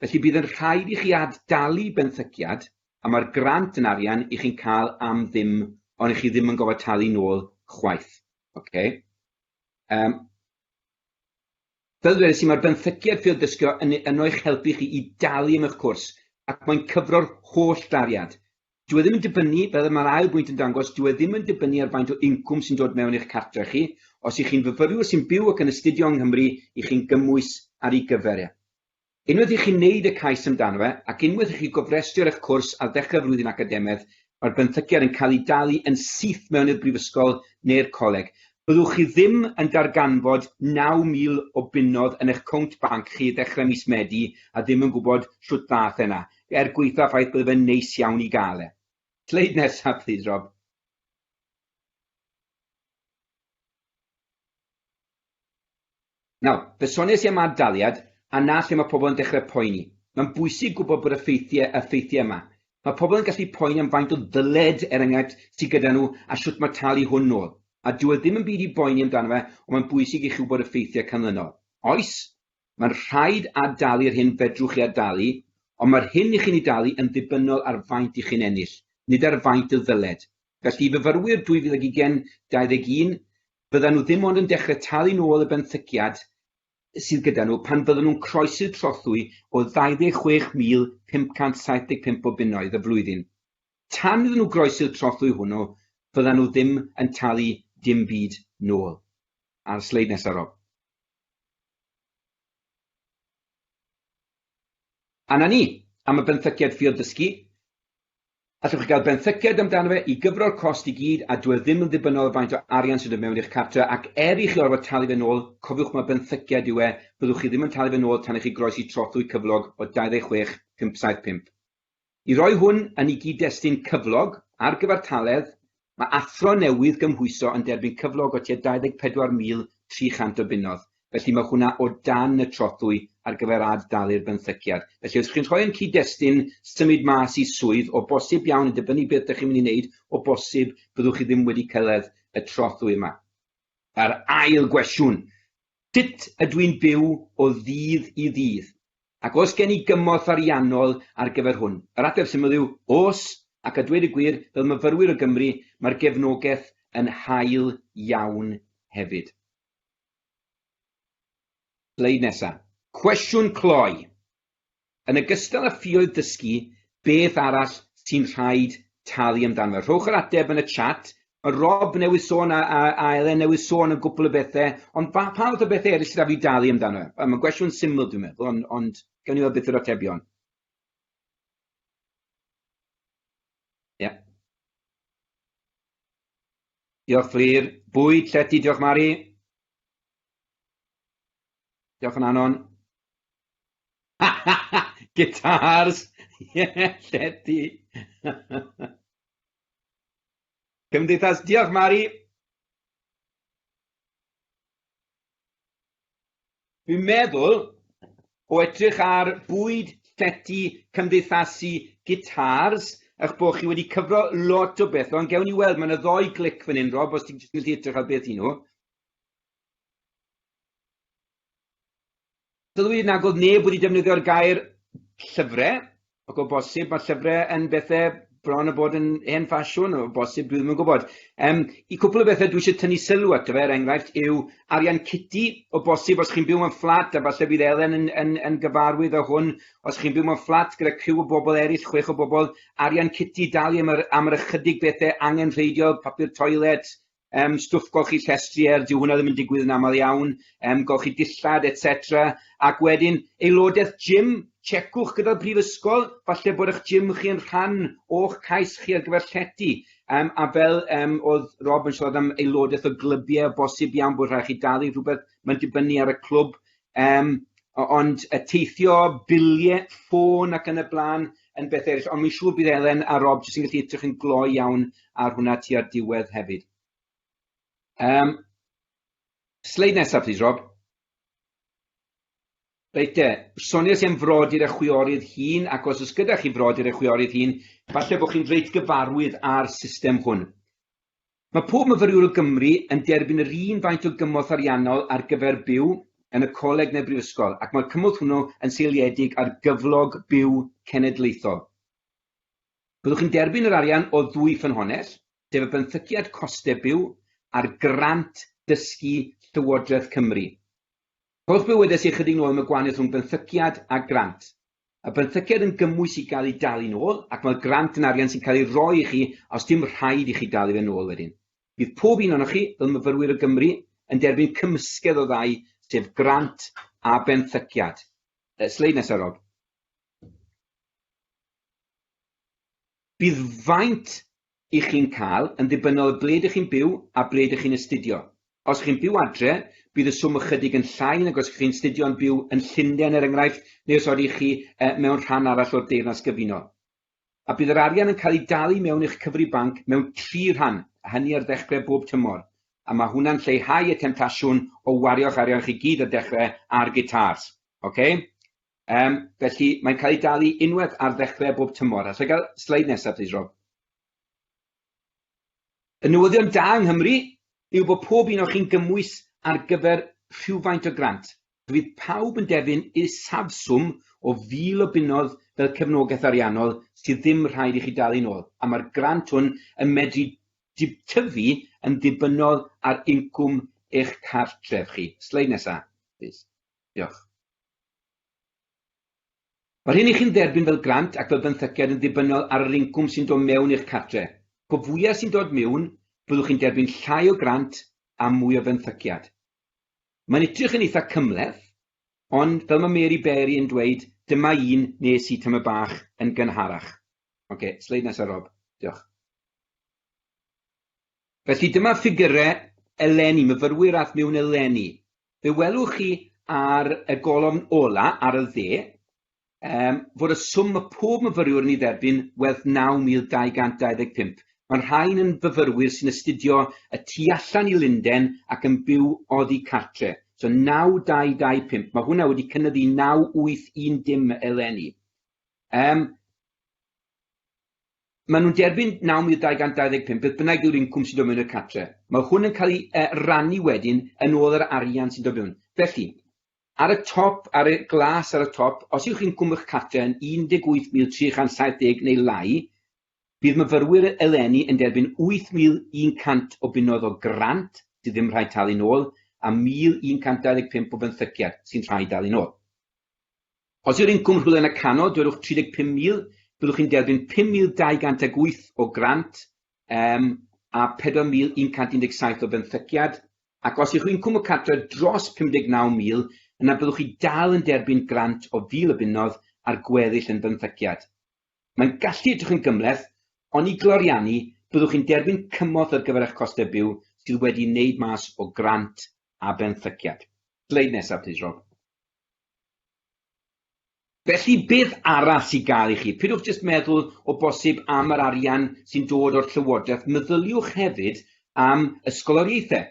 Felly bydd yn rhaid i chi ad-dalu benthyciad a mae'r grant yn arian i chi'n cael am ddim ond i chi ddim yn gofod talu nôl chwaith. Ok? Um, fel dweud i mae'r benthyciad ffyrdd dysgio yn, yn o'ch helpu chi i dalu am eich cwrs ac mae'n cyfro'r holl dariad. Dwi e ddim yn dibynnu, fel mae'r ail bwynt yn dangos, dwi e ddim yn dibynnu ar faint o incwm sy'n dod mewn i'ch cartre chi. Os ych chi'n fyfyriwr sy'n byw ac yn astudio yng Nghymru, i chi'n gymwys ar ei gyfer e. Unwaith i chi wneud y cais amdano fe, ac unwaith i chi gofrestru ar eich cwrs ar ddechrau'r flwyddyn academaidd, mae'r benthyciad yn cael ei dalu yn syth mewn i'r brifysgol neu'r coleg. Byddwch chi ddim yn darganfod 9,000 o bunnoedd yn eich cownt banc chi ddechrau mis Medi a ddim yn gwybod shwt ddaeth e 'na, er gwaetha'r ffaith bydde fe'n neis iawn i gael e. Sleid nesaf plîs Rob. Nawr, fe soniais i am ad-daliad, a 'na lle mae pobl yn dechrau poeni. Mae'n bwysig gwybod bod y ffeithiau, y ffeithiau yma. Mae pobl yn gallu poeni am faint o ddyled, er enghraifft, sydd gyda nhw a shwt mae talu hwn nôl. A dyw e ddim yn byd i boeni amdano fe, ond mae'n bwysig i chi wybod y ffeithiau canlynol. Oes, mae'n rhaid ad-dalu'r hyn fedrwch chi ad-dalu, ond mae'r hyn i chi'n ei dalu yn ddibynnol ar faint i chi'n ennill, nid ar faint y ddyled. Felly, i fyfyrwyr 2020, 21, Byddan nhw dim ond yn dechrau talu nôl y benthyciad sydd gyda nhw pan fyddan nhw'n croesi'r trothwy o 26,575 o bunnoedd y flwyddyn. Tan iddyn nhw groesi'r trothwy hwnnw, fyddan nhw ddim yn talu dim byd nôl. A'r sleid nesaf, Rob. A 'na ni, am y benthyciad ffiodd dysgu. Allwch chi gael benthyciad amdano fe i gyfro'r cost i gyd a dyw e ddim yn ddibynnol ar faint o arian sy'n dod mewn i'ch cartre ac er i chi orfod talu fe'n ôl, cofiwch mai benthyciad yw e, byddwch chi ddim yn talu fe'n ôl tan i chi groesi trothwy cyflog o 26 575. I roi hwn yn i gyd-destun cyflog ar gyfartaledd, Mae athro newydd gymhwyso yn derbyn cyflog o tua 24,300 o bunnoedd, felly mae hwnna o dan y trothwy ar gyfer ad-dalu'r benthyciad. Felly, os chi'n rhoi yn cyd-destun symud mas i swydd, o bosib iawn, yn dibynnu beth dych chi'n mynd i wneud, o bosib, byddwch chi ddim wedi cyrraedd y trothwy yma. Yr ail gwestiwn, Sut ydw i'n byw o ddydd i ddydd? Ac oes gen i gymorth ariannol ar gyfer hwn? Yr ateb syml yw, oes, ac a dweud y gwir, fel myfyrwyr o Gymru, mae'r gefnogaeth yn hael iawn hefyd. Sleid nesa. Cwestiwn cloi. Yn ogystal â ffioedd dysgu, beth arall sy'n rhaid talu amdano? Rhowch yr ateb yn y chat. Mae Rob newydd sôn a, a, a Elen newydd sôn yn gwpl o bethau, ond fa, pa fath o bethau eraill sy'n rhaid i dalu amdano? Wel, mae'n gwestiwn syml dwi'n meddwl, ond, ond gawn ni weld beth yw'r atebion. Ie. Diolch Fflir. Bwyd, llety, diolch Mari. Diolch yn anon. Guitars! Ie, llety! Cymdeithas, diolch Mari! Fi'n meddwl, o edrych ar bwyd llety cymdeithasu gitars, eich bod chi wedi cyfro lot o beth, ond gewn ni weld, mae'n y ddoi glic fan hyn, Rob, os ti'n gallu edrych ar beth i nhw. Dylai nag oedd neb wedi defnyddio'r gair llyfrau, ac o bosib mae llyfrau yn bethau bron a bod yn hen ffasiwn, o bosib, dwi ddim yn gwybod. Um, I cwpl o bethau dwi eisiau tynnu sylw ato fe, er enghraifft, yw arian citi, o bosib os chi'n byw mewn fflat, a falle bydd Elen yn, yn, yn gyfarwydd o hwn, os chi'n byw mewn fflat gyda criw o bobl eraill, chwech o bobl, arian citi, dalu am yr, am yr ychydig bethau angenrheidiol, papur toilet, um, stwff golchi chi llestri er, dyw hwnna ddim yn digwydd yn aml iawn, um, golchi chi dillad, etc. Ac wedyn, aelodaeth gym, checwch gyda'r brifysgol, falle bod eich gym chi yn rhan o'ch cais chi ar gyfer llety. Um, a fel um, oedd Rob yn siarad am aelodaeth o glybiau, bosib iawn bod rhaid chi dalu rhywbeth, mae'n dibynnu ar y clwb Yym, o- ond yy teithio, bilie, ffôn ac yn y bla'n yn beth eryll, ond wi'n siŵr bydd Elen a Rob jyst yn gallu edrych yn gloi iawn ar hwnna tua'r diwedd hefyd. Yym, sleid nesa plîs Rob. Reit te, soniais i am frodyr a chwiorydd hŷn ac os oes gyda chi frodyr a chwiorydd hŷn, falle bod chi'n reit gyfarwydd â'r system hwn. Mae pob myfyriwr o Gymru yn derbyn yr un faint o gymorth ariannol ar gyfer byw yn y coleg neu'r brifysgol ac mae'r cymorth hwnnw yn seiliedig ar gyflog byw cenedlaethol. Byddwch chi'n derbyn yr arian o ddwy ffynhonnell, sef y benthyciad costau byw a'r grant dysgu Llywodraeth Cymru. Rhowch bywydau sy'n ychydig nôl am y gwahaniaeth rhwng benthyciad a grant. Mae benthyciad yn gymwys i gael ei dalu nôl ac mae'r grant yn arian sy'n cael ei roi i chi os dim rhaid i chi dalu fe nôl wedyn. Bydd pob un ohonoch chi, fel myfyrwyr o Gymru, yn derbyn cymysgedd o ddau, sef grant a benthyciad. Y sleid nesaf, Rob. Bydd faint Y'ch chi'n cael, yn ddibynnol ble dych chi'n byw a ble dych chi'n astudio. Os chi'n byw adre, bydd y swm ychydig yn llai nag os y'ch chi'n astudio'n byw yn Llundain er enghraifft, neu os odych chi mewn rhan arall o'r Deyrnas Gyfunol. A bydd yr arian yn cael ei dalu mewn i'ch cyfri banc mewn tri rhan, a hynny ar ddechrau bob tymor. A mae hwnna'n lleihau y temtasiwn o wario'ch arian chi gyd ar dechrau ar gitars. Ocê? Yym, felly, mae'n cael ei dalu unwaith ar ddechrau bob tymor. Alla i gael sleid nesaf, plis, Rob? Y newyddion da yng Nghymru yw bod pob un o chi'n gymwys ar gyfer rhywfaint o grant. Bydd pawb yn derbyn isafswm o fil o bunnoedd fel cefnogaeth ariannol sydd ddim rhaid i chi dalu'n ôl, a mae'r grant hwn yn medru tyfu yn ddibynnol ar incwm eich cartref chi. Sleid nesaf, plis. Diolch. Mae'r hyn i chi'n dderbyn fel grant ac fel benthyciad yn ddibynnol ar yr incwm sy'n dod mewn i'ch cartre. Po fwyaf sy'n dod miwn, byddwch chi'n derbyn llai o grant a mwy o fenthyciad. Mae'n edrych yn eitha cymhleth, ond fel mae Mary Berry yn dweud, dyma un nes i tamaid bach yn gynharach. Ok, sleid nesa Rob. Diolch. Felly dyma ffigyrau eleni, myfyrwyr a'th mewn eleni. Fe welwch chi ar y golofn ola ar y dde um, fod y swm mae pob myfyriwr yn ei dderbyn werth 9,225. Mae'r rhain yn fyfyrwyr sy'n astudio y tu allan i Lunden ac yn byw oddi cartre. So 9,225, mae hwnna wedi cynyddu 9,810 eleni. Um, Maen nhw'n derbyn 9,225 beth bynnag yw'r incwm sy'n dod mewn i'r cartre'. Mae hwn yn cael ei e, rannu wedyn yn ôl yr arian sy'n dod mewn. Felly, ar y top, ar y glas ar y top, os yw'ch incwm eich cartre' yn 18,370 neu lai, bydd myfyrwyr eleni yn derbyn 8,100 o bunnoedd o grant sydd ddim rhaid talu'n ôl a 1,125 o benthyciad sy'n rhaid dalu'n ôl. Os yw'r incwm rhywle yn y canol, dwedwch 35,000, byddwch chi'n derbyn 5,208 o grant um, a 4,117 o benthyciad, ac os yw'ch incwm y cartre dros 59,000, yna byddwch chi dal yn derbyn grant o 1,000 o bunnoedd a'r gweddill yn benthyciad. Mae'n gallu edrych yn gymhleth, ond i gloriannu, byddwch chi'n derbyn cymorth ar gyfer eich costau byw sydd wedi'i wneud mas o grant a benthyciad. Sleid nesaf, plîs, Rob. Felly, beth arall sy'n gael i chi? Peidiwch jyst meddwl o bosib am yr arian sy'n dod o'r Llywodraeth, meddyliwch hefyd am ysgoloriaethau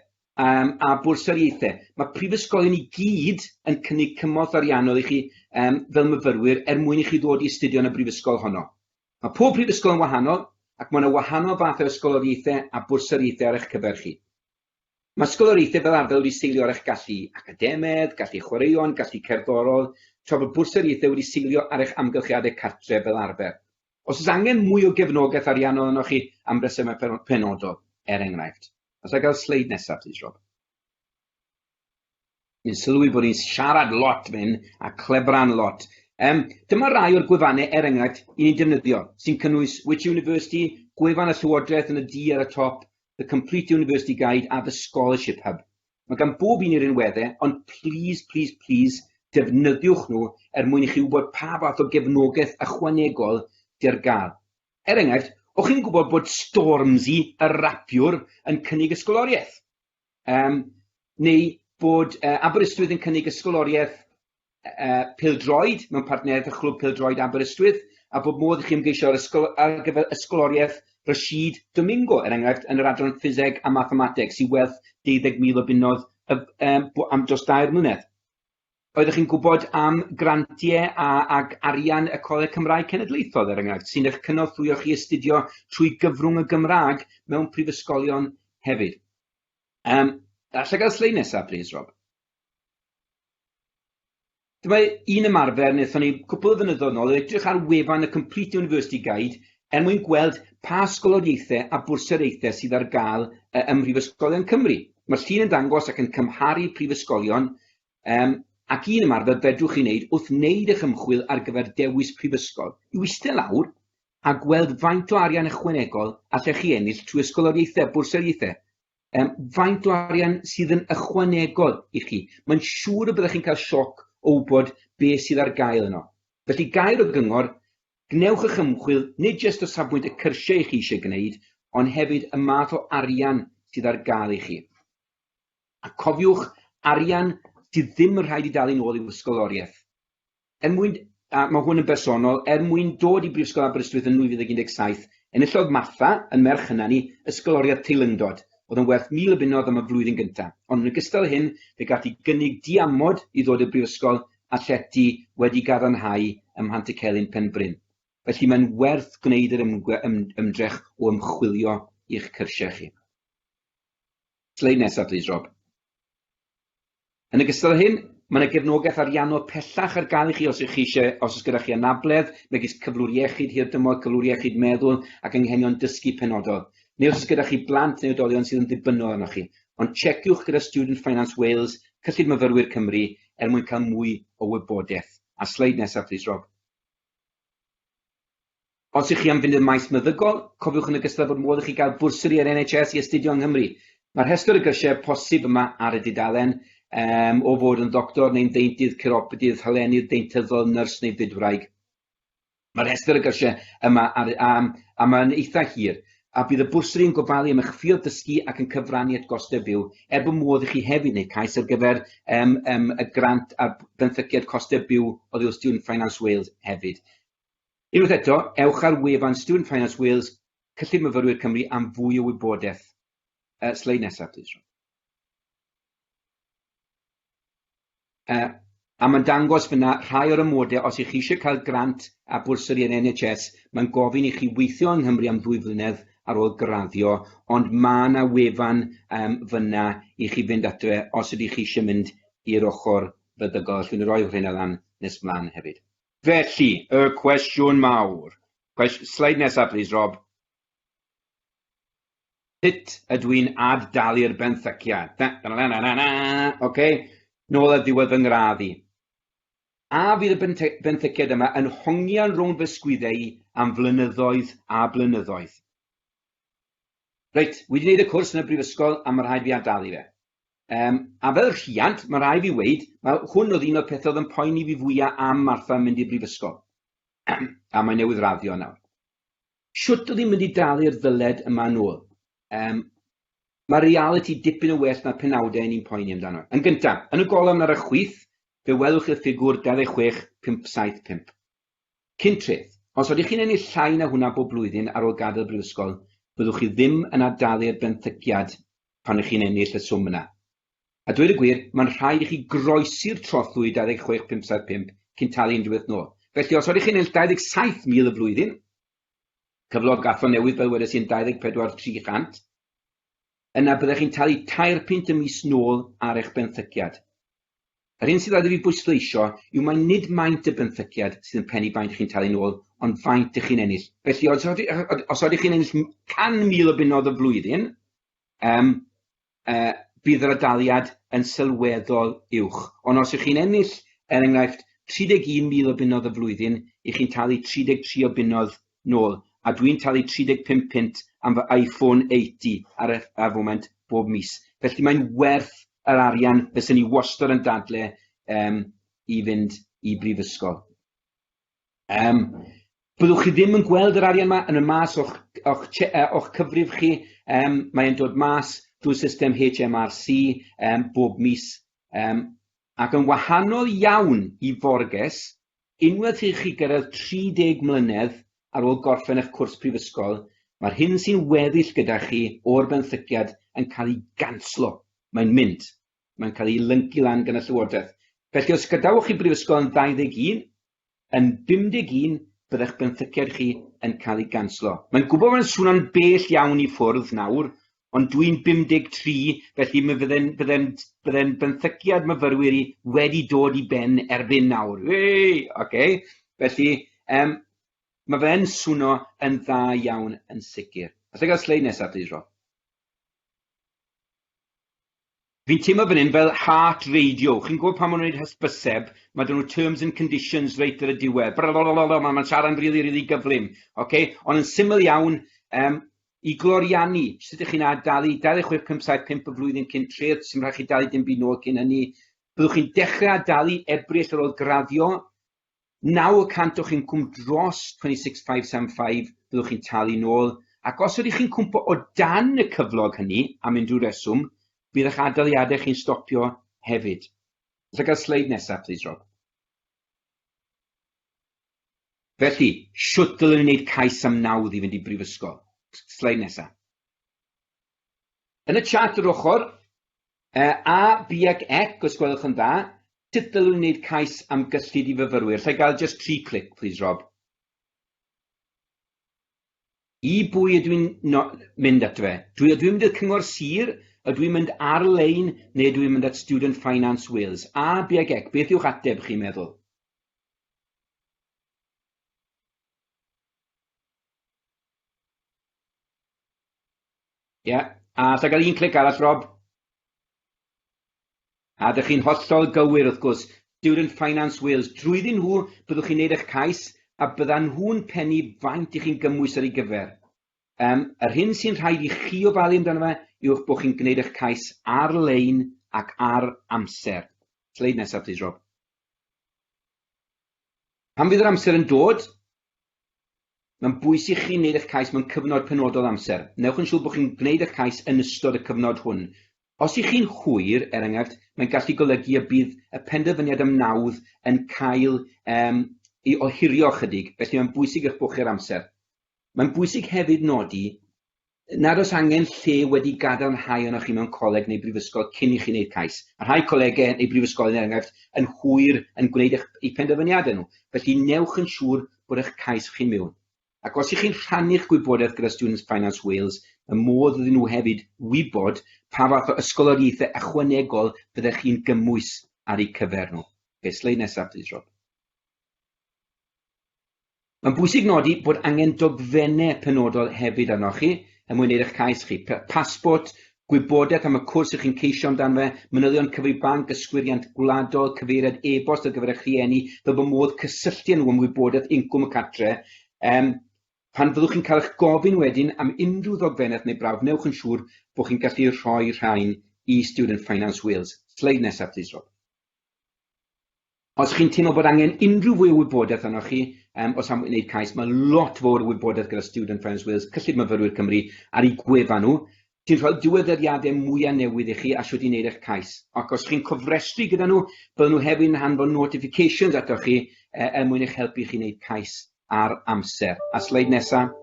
um, a bwrsariaethau. Mae prifysgolion i gyd yn cynnig cymorth ariannol i chi um, fel myfyrwyr er mwyn i chi ddod i astudio yn y brifysgol honno. Mae pob prifysgol yn wahanol ac mae yna wahanol fathau o ysgoloriaethau a bwrsariaethau ar eich cyfer chi. Mae sgoloriaethau fel arfer wedi seilio ar eich gallu academaidd, gallu chwaraeon, gallu cerddorol, tra bod bwrsariaethau wedi seilio ar eich amgylchiadau cartref fel arfer. Os oes angen mwy o gefnogaeth ariannol arnoch chi am resymau penodol, er enghraifft. Alla i gael y sleid nesaf, plis, Rob? Dwi'n sylwi bod hi'n siarad lot fan hyn a clebran lot. Um, dyma rai o'r gwefannau, er enghraifft, i ni'n defnyddio, sy'n cynnwys Which University, gwefan y Llywodraeth yn y du ar y top, The Complete University Guide a The Scholarship Hub. Mae gan bob un i'r rinweddau, ond please, please, please, defnyddiwch nhw er mwyn i chi wybod pa fath o gefnogaeth ychwanegol dy'r gael. Er enghraifft, o'ch chi'n gwybod bod Stormzy, y rapiwr, yn cynnig ysgoloriaeth? Yym, neu bod yy Aberystwyth yn cynnig ysgoloriaeth yy pêl-droed mewn partneriaeth â Chlwb Pêl-droed Aberystwyth, a bod modd i chi ymgeisio ar ysgol- ar gyfer ysgoloriaeth Rashid Domingo, er enghraifft, yn yr adran Ffiseg a Mathemateg, sy'n werth deuddeg mil o bunnoedd y- yym bw- am dros dair mlynedd. Oeddech chi'n gwybod am grantiau a, ac arian y Coleg Cymraeg Cenedlaethol, er enghraifft, sy'n eich cynorthwyo chi i astudio trwy gyfrwng y Gymraeg mewn prifysgolion hefyd? Um, allai gael sleid nesaf, please, Rob? Dyma un ymarfer wnaethon ni cwpl o fynyddoedd nôl, edrych ar wefan y Complete University Guide er mwyn gweld pa ysgoloriaethau a bwrsariaethau sydd ar gael ym Mhrifysgolion Cymru. Mae'r llun yn dangos ac yn cymharu prifysgolion Yym, ac un ymarfer fedrwch chi wneud wrth wneud eich ymchwil ar gyfer dewis prifysgol yw eistedd lawr a gweld faint o arian ychwanegol allech chi ennill trwy ysgoloriaethau, bwrsariaethau. Yym, faint o arian sydd yn ychwanegol i chi. Mae'n siŵr y byddech chi'n cael sioc o wybod be sydd ar gael yno. Felly, gair o gyngor, gwnewch eich ymchwil nid jyst o safbwynt y cyrsiau chi eisiau gwneud, ond hefyd y math o arian sydd ar gael i chi. A cofiwch, arian sydd ddim yn rhaid i dalu'n ôl i'w ysgoloriaeth. Er mwyn, a mae hwn yn bersonol, er mwyn dod i Brifysgol Aberystwyth yn 2017, enillodd Martha, yn merch hyna ni, ysgoloriaeth teilyngdod, oedd yn werth mil o bunnoedd am y flwyddyn gyntaf. Ond yn ogystal â hyn, fe gaf hi gynnig diamod i ddod i'r Brifysgol a llety wedi gadarnhau ym Mhantycelyn Penbryn. Felly mae'n werth gwneud yr ymdrech o ymchwilio i'ch cyrsiau chi. Sleid nesaf plîs Rob. Yn ogystal â hyn, mae yna gefnogaeth ariannol pellach ar gael i chi os ych chi eisiau, os oes gyda chi anabledd, megis cyflwr iechyd hirdymor, cyflwr iechyd meddwl ac anghenion dysgu penodol, neu os oes gyda chi blant neu oedolion sydd yn ddibynnol arnoch chi. Ond checiwch gyda Student Finance Wales, Cyllid Myfyrwyr Cymru, er mwyn cael mwy o wybodaeth. A sleid nesaf plîs Rob. Os ych chi am fynd i'r maes meddygol, cofiwch yn ogystal bod modd i chi gael bwrsari o'r NHS i astudio yng Nghymru. Mae rhestr y gyrsiau posib yma ar y dudalen, um, o fod yn ddoctor neu'n ddeintydd, ciropodydd, hyleenydd, deintyddol, nyrs neu fydwraig. Mae rhestr y gyrsiau yma ar, um, a mae'n eitha hir, a bydd y bwrsari yn gofalu am eich ffiodd dysgu ac yn cyfrannu at gostau byw, er bod modd i chi hefyd wneud cais ar gyfer um, um, y grant ar benthyciad costau byw oddi wrth Student Finance Wales hefyd. Unwaith eto, ewch ar wefan Student Finance Wales, Cyllid Myfyrwyr Cymru am fwy o wybodaeth. Uh, sleid nesaf, plîs, Ron. Uh, a mae'n dangos fyna rhai o'r ymwodau os ych chi eisiau cael grant a bwrsari yn NHS, mae'n gofyn i chi weithio yng Nghymru am ddwy flynedd ar ôl graddio, ond mae yna wefan um, fyna i chi fynd atre os ydych chi eisiau mynd i'r ochr feddygol. Allwn ni roi hwnna lan nes mlaen hefyd. Felly, y cwestiwn mawr, cwest-, sleid nesa plis Rob, sut ydw i'n ad-dalu'r benthyciad? Da, da, da, da, da, da, ok, nôl at ddiwedd fy ngradd i. A fydd y benthyciad yma yn hongian rownd fy sgwydde i am flynyddoedd a blynyddoedd? Reit, wedi wneud y cwrs yn y brifysgol a mae rhaid fi ad-dalu fe. Yym, a fel rhiant, mae rhaid fi weud, wel, hwn oedd un o'r pethau oedd yn poeni fi fwya am Martha yn mynd i brifysgol. a mae newydd raddio nawr. Shwt oedd hi'n mynd i dalu'r ddyled yma yn ôl? Um, mae reality dipyn yn well na'r penawdau ni'n poeni amdano. Yn gyntaf, yn y golofn ar y chwith, fe welwch i'r ffigwr 26575. Cyn treth, os ydych chi'n ennill llai na hwnna bob blwyddyn ar ôl gadael brifysgol, byddwch chi ddim yn ar dalu'r benthyciad pan ych chi'n ennill y swm yna. A dweud y gwir, mae'n rhaid i chi groesi'r trothwy 26575 cyn talu unrhyw beth nôl. Felly, os ydych chi'n ennill 27,000 y flwyddyn, cyflog Atho newydd fel wedes i yn 24 300, yna byddech chi'n talu tair punt y mis nôl ar eich benthyciad. Yr hyn sydd oedd i fi bwysleisio yw mai nid maint y benthyciad sydd yn pennu faint chi'n talu'n ôl, ond faint ych chi'n ennill. Felly, os oeddech chi, os oeddech chi'n ennill 100,000 o bunnoedd y flwyddyn, um, uh, bydd yr adaliad yn sylweddol uwch. Ond os ych chi'n ennill, er enghraifft, 31,000 o bunnoedd y flwyddyn, i chi'n talu 33 o bunnoedd nôl, a dwi'n talu 35 punt am fy Iphone 8 ar y ar foment bob mis. Felly mae'n werth yr arian, fyswn i wastad yn dadle um, i fynd i brifysgol. Um, byddwch chi ddim yn gweld yr arian yma yn y mas o'ch, o'ch, o'ch cyfrif chi, um, mae'n dod mas drwy system HMRC um, bob mis. Um, ac yn wahanol iawn i forges, Unwaith i chi gyrraedd 30 mlynedd ar ôl gorffen eich cwrs prifysgol, mae'r hyn sy'n weddill gyda chi o'r benthyciad yn cael ei ganslo, mae'n mynd, mae'n cael ei lyncu lan gan y Llywodraeth. Felly, os gadawch chi brifysgol yn 21, yn 51 bydda'ch benthyciad chi yn cael ei ganslo. Mae'n gwybod bod e'n swno'n bell iawn i ffwrdd nawr, Ond dwi'n 53, felly mi fydde'n bydde'n bydde'n benthyciad myfyrwyr i wedi dod i ben erbyn nawr. Wee! Ocê. Felly, um, mae fe'n swno yn dda iawn yn sicr. Alla i gael sleid nesaf, please, Rob? Fi'n teimlo fan hyn fel heart radio, chi'n gwybod pan maen nhw'n wneud hysbyseb, mae 'da nhw terms and conditions reit ar y diwedd, brrrolololo, mae'n ma siarad yn rili, rili gyflym, ok? Ond yn syml iawn, um, i gloriannu, sut ydych chi'n adalu 2657 y flwyddyn cyn treth, sy'n rhaid chi dalu dim byd nôl cyn hynny, byddwch chi'n dechrau adalu Ebrill ar ôl graddio, Naw y cant o'ch incwm dros 26,575 fyddwch chi'n talu nôl, ac os ydych chi'n cwmpo o dan y cyflog hynny am unrhyw reswm, bydd eich adaliadau chi'n stopio hefyd. Os a gael sleid nesaf plîs Rob. Felly, shwt ddylwn i wneud cais am nawdd i fynd i brifysgol? Sleid nesaf. Yn y chart yr ochr, yy, A, B ac Ec, os gwelwch yn dda, sut ddylwn i wneud cais am gyllid i fyfyrwyr? Alla i gael just tri clic, please, Rob? I bwy ydw i'n no mynd ato fe? Dwi, ydw i'n mynd i'r cyngor sir? Ydw i'n mynd ar-lein? Neu ydw i'n mynd at Student Finance Wales? A, B ac Ec, beth yw'ch ateb chi'n meddwl? Ie, a os na gael un clic arall, Rob? A dych chi'n hollol gywir, wrth gwrs, Student Finance Wales, drwyddyn nhw byddwch chi'n neud eich cais a byddan nhw'n pennu faint i chi'n gymhwys'r ei gyfer. Um, yr hyn sy'n rhaid i chi ofalu amdano fe yw'ch bod chi'n gwneud eich cais ar-lein ac ar amser. Sleid nesaf, please, Rob. Pan fydd yr amser yn dod, mae'n bwys i chi wneud eich cais mewn cyfnod penodol o amser. Newch yn siŵr bod chi'n gwneud eich cais yn ystod y cyfnod hwn. Os i chi'n hwyr, er enghraifft, mae'n gallu golygu y bydd y penderfyniad am nawdd yn cael um, i ohirio ychydig, felly mae'n bwysig eich bod chi ar amser. Mae'n bwysig hefyd nodi Nad oes angen lle wedi gadarnhau arnoch chi mewn coleg neu brifysgol cyn i chi wneud cais. Mae rhai colegau neu brifysgolion, er enghraifft, yn hwyr yn gwneud eich eu penderfyniadau nhw, felly newch yn siŵr bod eich cais chi'n mewn. Ac os y'ch chi'n rhannu'ch gwybodaeth gyda Students Finance Wales, mae modd iddyn nhw hefyd wybod pa fath o ysgoloriaethau ychwanegol fyddech chi'n gymwys ar eu cyfer nhw. Ok, sleid nesaf plîs Rob. Mae'n bwysig nodi bod angen dogfennau penodol hefyd arnoch chi er mwyn wneud eich cais chi, pasbort, gwybodaeth am y cwrs ych chi'n ceisio amdano fe, manylion cyfrif banc, yswiriant gwladol, cyfeiriad e-bost ar gyfer eich rhieni fel bod modd cysylltu â nhw am wybodaeth incwm y cartre. Um, pan fyddwch chi'n cael eich gofyn wedyn am unrhyw ddogfennaeth neu brawf, newch yn siŵr bod chi'n gallu rhoi rhain i Student Finance Wales. Sleid nesaf, plis, Rob. Os chi'n teimlo bod angen unrhyw fwy o wybodaeth arnoch chi, um, o safbwynt wneud cais, mae lot fawr o wybodaeth gyda Student Friends Wales, Cyllid Myfyrwyr Cymru, ar ei gwefan nhw, sy'n rhoi'r diweddariadau mwyaf newydd i chi a sut i wneud eich cais. Ac os chi'n cofrestru gyda nhw, byddwn nhw hefyd yn hanfod notifications atoch chi e, er mwyn eich helpu chi wneud cais ar amser. A sleid nesaf.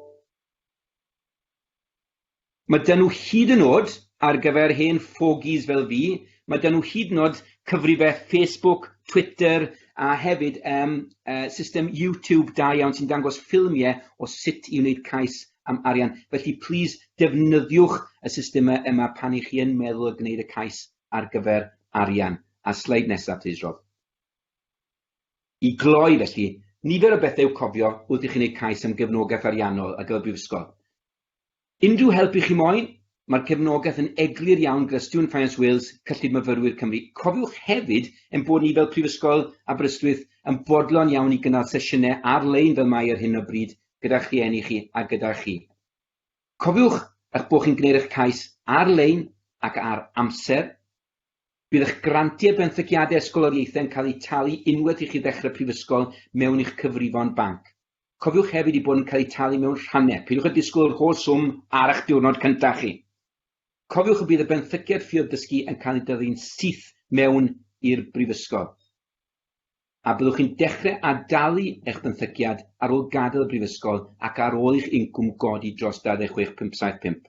Mae 'da nhw hyd yn o'd, ar gyfer hen ffogies fel fi, mae 'da nhw hyd yn o'd cyfrifeg Facebook, Twitter a hefyd yym yy system YouTube da iawn sy'n dangos ffilmiau o sut i wneud cais am arian. Felly plîs defnyddiwch y systemau yma pan 'y chi yn meddwl o gwneud y cais ar gyfer arian. A sleid nesaf plîs Rob. I gloi, felly, nifer o bethau i'w cofio wrth i chi wneud cais am gefnogaeth ariannol ar gyfer Brifysgol. Unrhyw help i chi moyn? Mae'r cefnogaeth yn eglur iawn gyda Student Finance Wales, Cyllid Myfyrwyr Cymru. Cofiwch hefyd ein bod ni fel Prifysgol Aberystwyth yn fodlon iawn i gynnal sesiynau ar-lein fel mae ar hyn o bryd gyda'ch rhieni chi a gyda chi. Cofiwch eich bod chi'n gwneud eich cais ar-lein ac ar amser. Bydd eich grantiau benthyciadau ysgoloriaethau yn cael eu talu unwaith i chi ddechrau prifysgol mewn i'ch cyfrifon banc. Cofiwch hefyd eu bod yn cael eu talu mewn rhannau, peidiwch â disgwyl yr holl swm ar eich diwrnod cyntaf chi. Cofiwch y bydd y benthyciad Ffioedd Dysgu yn cael ei dyfu'n syth mewn i'r brifysgol, a byddwch chi'n dechrau ad-dalu eich benthyciad ar ôl gadael y brifysgol ac ar ôl i'ch incwm godi dros 26,575.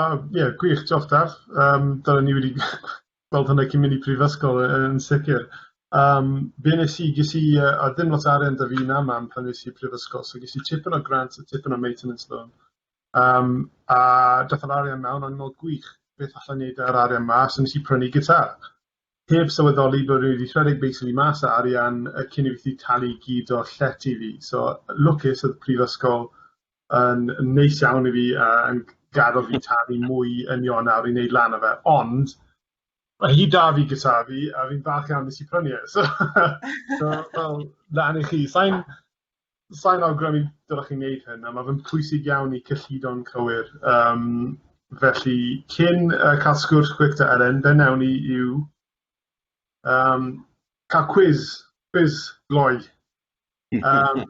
O ie gwych diolch Daf yym dyna ni wedi gweld hwnna cyn mynd i prifysgol yy yn sicir yym be' nes i ges i yy a ddim lot o arian 'da fi na mam pan es i prifysgol so ges i tipyn o grant a tipyn o maintenance loan yym a dath yr arian 'na o'n mor gwych beth allai neud â'r arian 'ma so nes i prynu gitâr heb sylweddoli bo' fi 'di rhedeg basically mas o arian yy cyn i fi 'llu talu gyd o'r llety fi so lwcus o'dd prifysgol yn yn neis iawn i fi a yn gadel fi talu mwy yn Ionawr i neud lan o fe, ond ma' hi 'da fi gyda fi a fi'n falch iawn nes i prynu e so so fel lan i chi. Sai'n sai'n awgrymu dylech chi neud hyn a ma' fe'n pwysig iawn i cyllido'n cywir yym felly cyn yy ca'l sgwrs quick 'da Elen be' newn ni yw yym ca'l cwis cwis gloi yym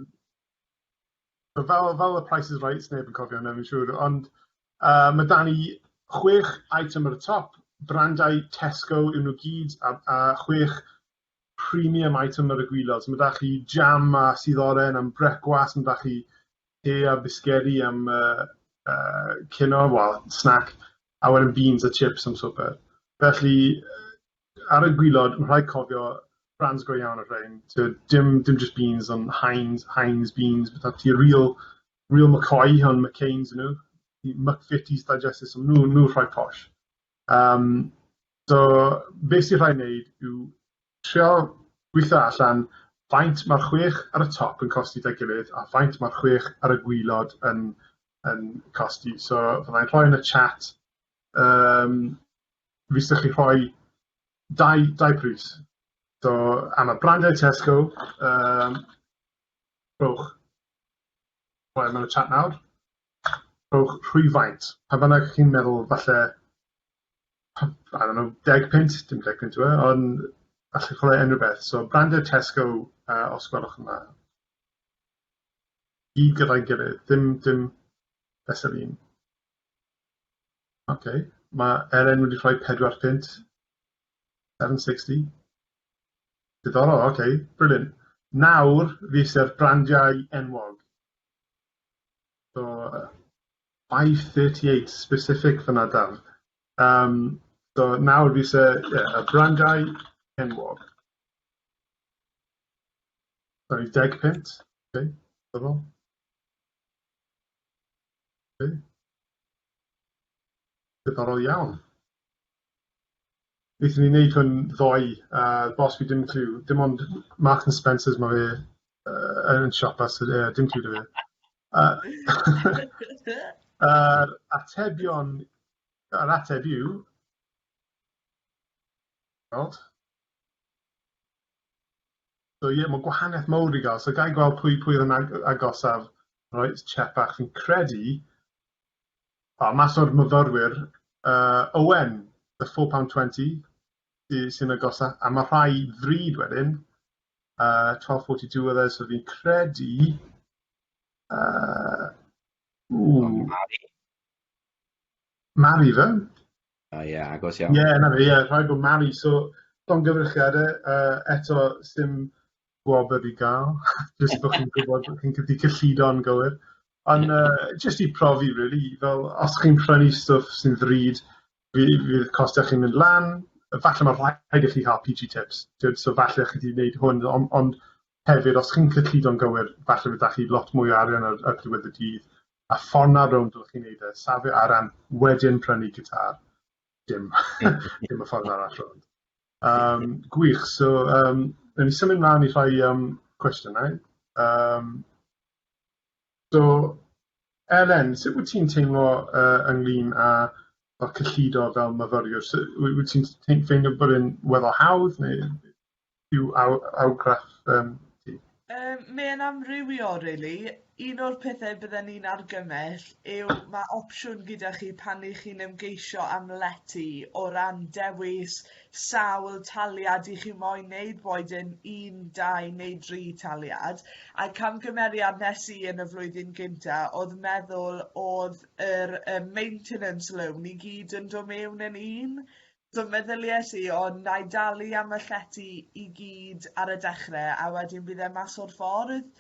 So fel fel y Price is Right, sneb yn cofio hwnna fi'n siŵr, ond yy ma' 'da ni chwech item ar y top, brandau Tesco yw nw gyd a a chwech premium item ar y gwilod, so ma' 'da chi jam a sudd oren am brecwast, ma' 'da chi te a bisgedi am yy yy cino, wel, snack. awen yn beans a chips am swper. Felly, ar y gwylod, mae'n rhaid cofio brands go iawn o'r rhain. Tywed, dim, dim just beans, ond Heinz, Heinz beans, beth ti, real, real McCoy, ond McCain's nhw, McFitties digested, so nhw, nhw rhoi posh. Um, so, beth sy'n rhaid wneud yw trio gweithio allan faint mae'r chwech ar y top yn costi da gilydd a faint mae'r chwech ar y gwylod yn, yn costi. So fyddai'n rhoi yn y chat, um, fi sy'ch chi rhoi dau, dau pris. So am y brandau Tesco, um, rhowch, rhoi yn y chat nawr, rhowch rhwyfaint. Pa bynnag chi'n meddwl falle, I don't know, deg pint, dim deg pint yw e, ond allwch rhoi unrhyw beth. So brandau Tesco, uh, os gwelwch yma. Gyd gyda'i gilydd, dim dim fesul un. Ok, mae Elen wedi rhoi pedwar punt. Seven sixty. Diddorol, ok, brilliant. Nawr fi iste'r brandiau enwog. So, uh, 538 specific fyna daf. Um, so nawr fi isie yeah, y brandiau enwog. Sori, deg punt? Ok, diddorol. Ok. Diddorol iawn. Byddwn ni'n neud hwn ddoe, uh, bos fi dim clue, dim ond Marks and Spencers mae fe uh, yn siopa, so uh, dim clue da fe. Uh, uh, atebion, yr ateb yw, So ie, mae gwahaniaeth mawr i gael. So gael gweld pwy pwy oedd yn ag agosaf Royce Chepak. Fi'n credu, o, mas o'r myfyrwyr, uh, Owen, the £4.20, sy'n agosaf, a mae rhai ddrud wedyn, uh, 12.42 oedd e, so fi'n credu... Uh, Mari. Mari fe? Ie, ie, agos iawn. Ie, na fe, ie, rhaid bod Mari, so, don gyfyrchiadau, uh, eto, sy'n gwobr i gael, jyst bod chi'n gwybod bod chi'n cydi cyllido'n gywir. Ond uh, jyst i profi, really, fel os chi'n prynu stwff sy'n ddrud, fydd costau chi'n mynd lan, falle mae rhaid i chi cael PG tips, Dyd, so falle chi wedi gwneud hwn, ond, ond hefyd, os chi'n cyllido'n gywir, falle byddwch chi lot mwy o arian ar, ar diwedd y dydd, a ffordd na rownd oddech chi'n neud e, safio ar ran wedyn prynu gitar, dim dim y ffordd arall rownd. Um, gwych, so um, yn ni symud mlaen i rhai um, cwestiynau. Um, so, Elen, sut wyt ti'n teimlo uh, ynglyn â fel cyllido fel myfyriwr? So, wyt ti'n ffeindio bod yn weddol hawdd neu yw argraff yym ti? Yym mae'n amrywio rili, un o'r pethe bydden i'n argymell yw ma' opsiwn gyda chi pan 'y chi'n ymgeisio am lety o ran dewis sawl taliad 'y chi moyn neud boed e'n un dau neu dri taliad a camgymeriad nes i yn y flwyddyn gynta o'dd meddwl o'dd yr yym maintenance loan i gyd yn do' mewn yn un So meddylies i, o, na i dalu am y llety i gyd ar y dechrau a wedyn bydd e mas o'r ffordd.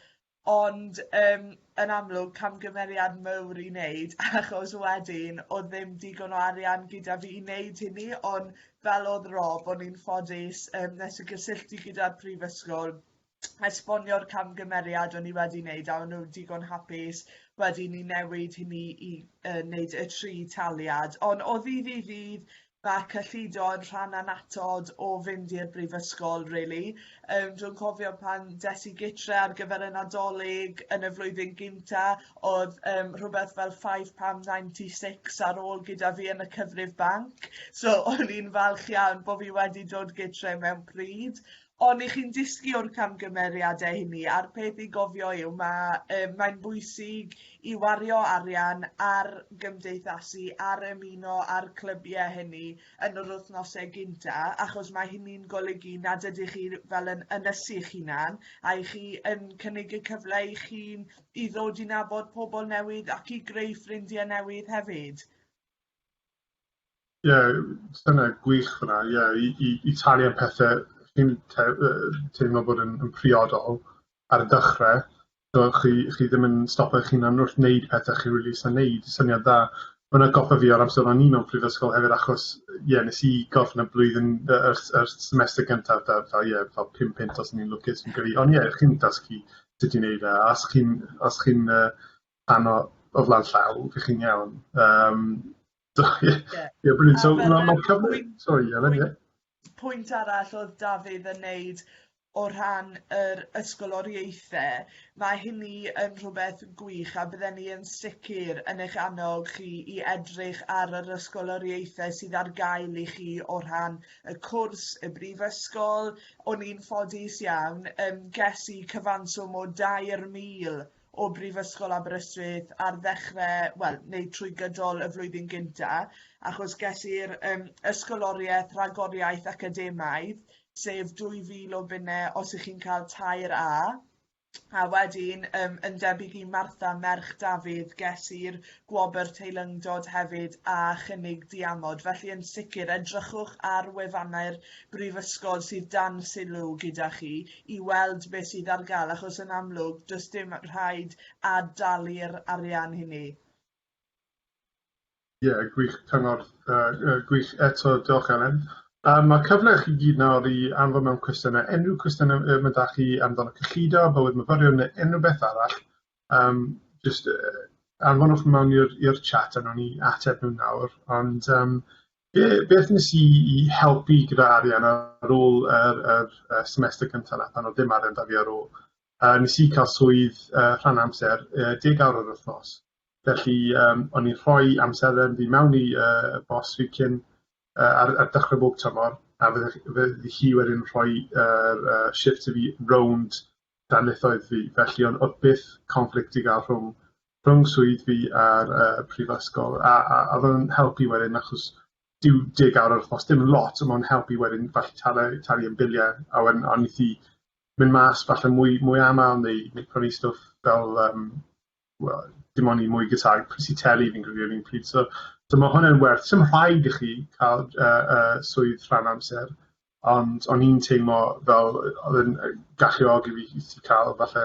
Ond um, yn amlwg camgymeriad mawr i wneud achos wedyn oedd ddim digon o arian gyda fi i wneud hynny ond fel oedd Rob o'n i'n ffodus um, nes y gysylltu gyda'r prifysgol esbonio'r camgymeriad o'n i wedi wneud a o'n nhw digon hapus wedyn i newid hynny i uh, wneud y tri taliad. Ond o ddydd i ddydd mae cyllido yn rhan anatod o fynd i'r brifysgol, really. Um, dwi'n cofio pan des i gytre ar gyfer y nadolig yn y flwyddyn gynta, oedd um, rhywbeth fel £5.96 ar ôl gyda fi yn y cyfrif banc, so o'n i'n falch iawn bod fi wedi dod gytre mewn pryd. Ond i chi'n dysgu o'r camgymeriade hynny a'r peth i gofio yw ma' yy mae'n bwysig i wario arian ar gymdeithasu ar ymuno a'r clybie hynny yn yr wthnose gynta achos ma' hynny'n golygu nad ydych chi fel yn ynysu'ch hunan a i chi yn cynnig y cyfle i chi i ddod i nabod pobl newydd ac i greu ffrindie newydd hefyd. Ie, dyna gwych fyna, ie, i, i, i talu am pethau chi'n te, teimlo bod yn, yn priodol ar y dechrau, so chi, chi ddim yn stopio eich hunan wrth wneud pethau chi'n rili really eisiau wneud, syniad da. Mae'n atgoffa fi o'r amser o'n i mewn prifysgol hefyd, achos, ie, yeah, nes i gorffen y blwyddyn, y, y, y semester gyntaf, da, fel, ie, yeah, fel pum pint os o'n i'n lwcus fi'n credu, ond ie, yeah, chi'n dasgu sut i'n neud e, os chi'n, os chi'n, uh, rhan o o flaen llaw, dych chi'n iawn. Um, so, yeah. yeah. yeah brilliant. So, mae ma cyfle... Sorry, Ellen, yeah. Pwynt arall oedd Dafydd yn neud o rhan yr ysgoloriaethau, mae hynny yn rhywbeth gwych a bydden ni yn sicr yn eich annog chi i edrych ar yr ysgoloriaethau sydd ar gael i chi o rhan y cwrs, y brifysgol. O'n i'n ffodus iawn, um, ges i cyfanswm o 2,000 o Brifysgol Aberystwyth ar ddechre wel neu trwy gydol y flwyddyn gynta achos ges i'r yym ysgoloriaeth rhagoriaeth academaidd sef 2000 o bunne os ych chi'n cael tair A a wedyn yym yn debyg i Martha merch Dafydd ges i'r gwobr teilyngdod hefyd a chynnig diamod felly yn sicr edrychwch ar wefannau'r brifysgol sydd dan sylw gyda chi i weld beth sydd ar gael achos yn amlwg does dim rhaid ad-dalu'r arian hynny. Ie, yeah, gwych cyngor, uh, gwych eto, diolch Elen. Um, mae cyfle chi gyd nawr i anfon mewn cwestiynau, unrhyw cwestiynau um, ydych da chi amdano cyllido, bywyd myfyrion neu unrhyw beth arall, um, just uh, anfonwch mewn i'r chat a nhw'n ni ateb nhw nawr, ond um, Be, beth nes i i helpu gyda arian ar ôl yr, yr, yr semester cyntaf na, pan oedd dim arian da fi ar ôl? Uh, nes i cael swydd uh, rhan amser, uh, deg awr yr wythnos. Felly, um, o'n i'n rhoi amserlen fi mewn i uh, bos fi cyn uh, ar, ar dechrau bob tymor, a fydde, fydde hi wedyn rhoi uh, uh, shift i fi rownd darlithoedd fi, felly o'n o'dd byth conflict i ga'l rhwng rhwng swydd fi a'r yy y prifysgol a a a o'dd o'n helpu wedyn achos dyw deg awr yr wthnos dim yn lot on' ma' o'n helpu wedyn falle talu talu am bilie a wedyn a nith i myn' mas falle mwy mwy amal neu neu prynu stwff fel yym wel dim on' i mwy gasáu prys i teli fi'n credu yr un pryd so so ma' hwnna'n werth sim rhaid i chi ca'l yy yy swydd rhan amser Ond o'n i'n teimlo fel yy odd e'n yy galluogi fi i i ca'l falle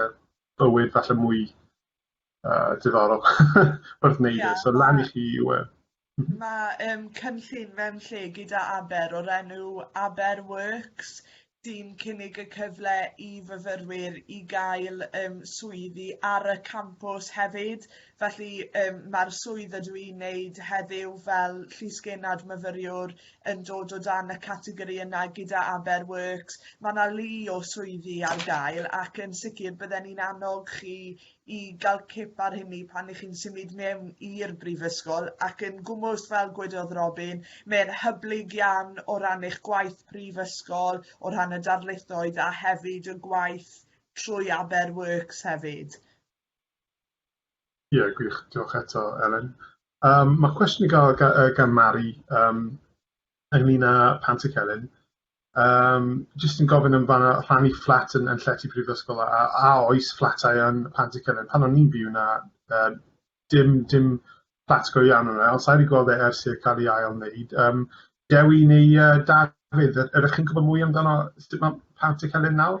bywyd falle mwy yy diddorol wrth neud e so lan i chi yw e. Ma' yym cynllun Fewn Lle gyda Aber o'r enw Aber Works sy'n cynnig y cyfle i fyfyrwyr i gael yym swyddi ar y campws hefyd Felly yym ma'r swydd ydw i'n neud heddiw fel llysgennad myfyriwr yn dod o dan y categori yna gyda Aber Works. Mae yna lu o swyddi ar gael ac yn sicr bydden ni'n annog chi i gael cip ar hynny pan ych chi'n symud mewn i'r brifysgol ac yn gwmwst fel gwedodd Robin, mae'n hyblyg iawn o ran eich gwaith prifysgol, o rhan y darlithoedd a hefyd y gwaith trwy Aber Works hefyd. Ie, gwych. Diolch eto, Elen. Yym ma' cwestiwn i ga'l ga- yy gan Mari yym ynglŷn â Pant y Celyn yym jyst yn gofyn am fan 'na rhannu fflat yn yn llety prifysgol a a a oes fflatau yn Pant y Celyn? Pan o'n i'n byw 'na yy dim dim fflat go iawn o' 'na ond sai 'di gweld e ers i'r ca'l 'i ail wneud yym Dewi neu yy Dafydd yy ydych chi'n gwbod mwy amdano sut ma' Pant y Celyn nawr?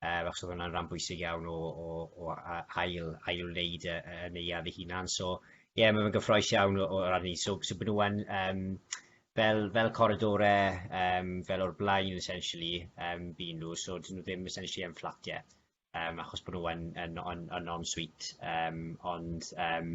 um, achos oedd hwnna'n rhan bwysig iawn o, o, o ail, ail wneud y, y neuad ei hunan. So, ie, yeah, mae'n gyffroes iawn o, o ran ni. So, so byd nhw'n um, fel, fel coridorau, um, fel o'r blaen, essentially, um, byd nhw. So, dyn nhw ddim essentially yn fflat, ie. Yeah. Um, achos bod nhw'n yn, yn, yn, yn on-suite. Um, ond, um,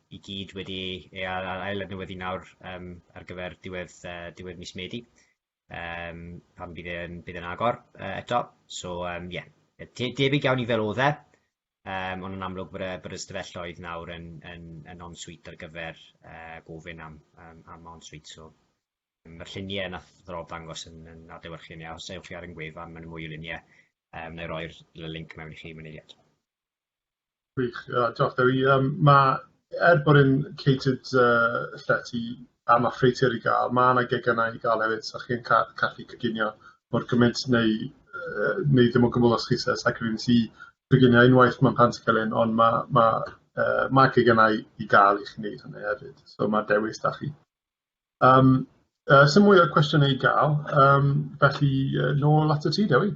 i gyd wedi ei ail adnewyddu nawr um, ar gyfer diwedd, uh, diwedd mis Medi, um, pan bydd e'n bydd yn agor uh, eto. So, um, yeah, debyg iawn i fel oedd e, um, ond yn amlwg bod y, bod y stafelloedd nawr yn, yn, yn on-suite ar gyfer uh, gofyn am, um, am on-suite. So, mae'r lluniau yna ddrol dangos yn, yn adlewyrchu ni, os ewch chi ar yng gwefan, mae'n mwy o luniau, um, neu roi'r link mewn i chi mynd eiliad. Gwych, diolch Dewi. Yym ma'... Er bod e'n catered yy llety a ma' ffreutur i ga'l ma' 'na geganau i ga'l hefyd so chi'n ca- gallu coginio mor gymint neu yy neu ddim o gwbwl os chi isie cyfri yn tŷ coginio unwaith ma'n Pantycelyn on' ma' ma' yy ma' geganau i ga'l i chi neud hynny hefyd so ma'r dewis 'da chi. Yym yy sim mwy o cwestiyne i ga'l yym felly yy nôl atat ti Dewi.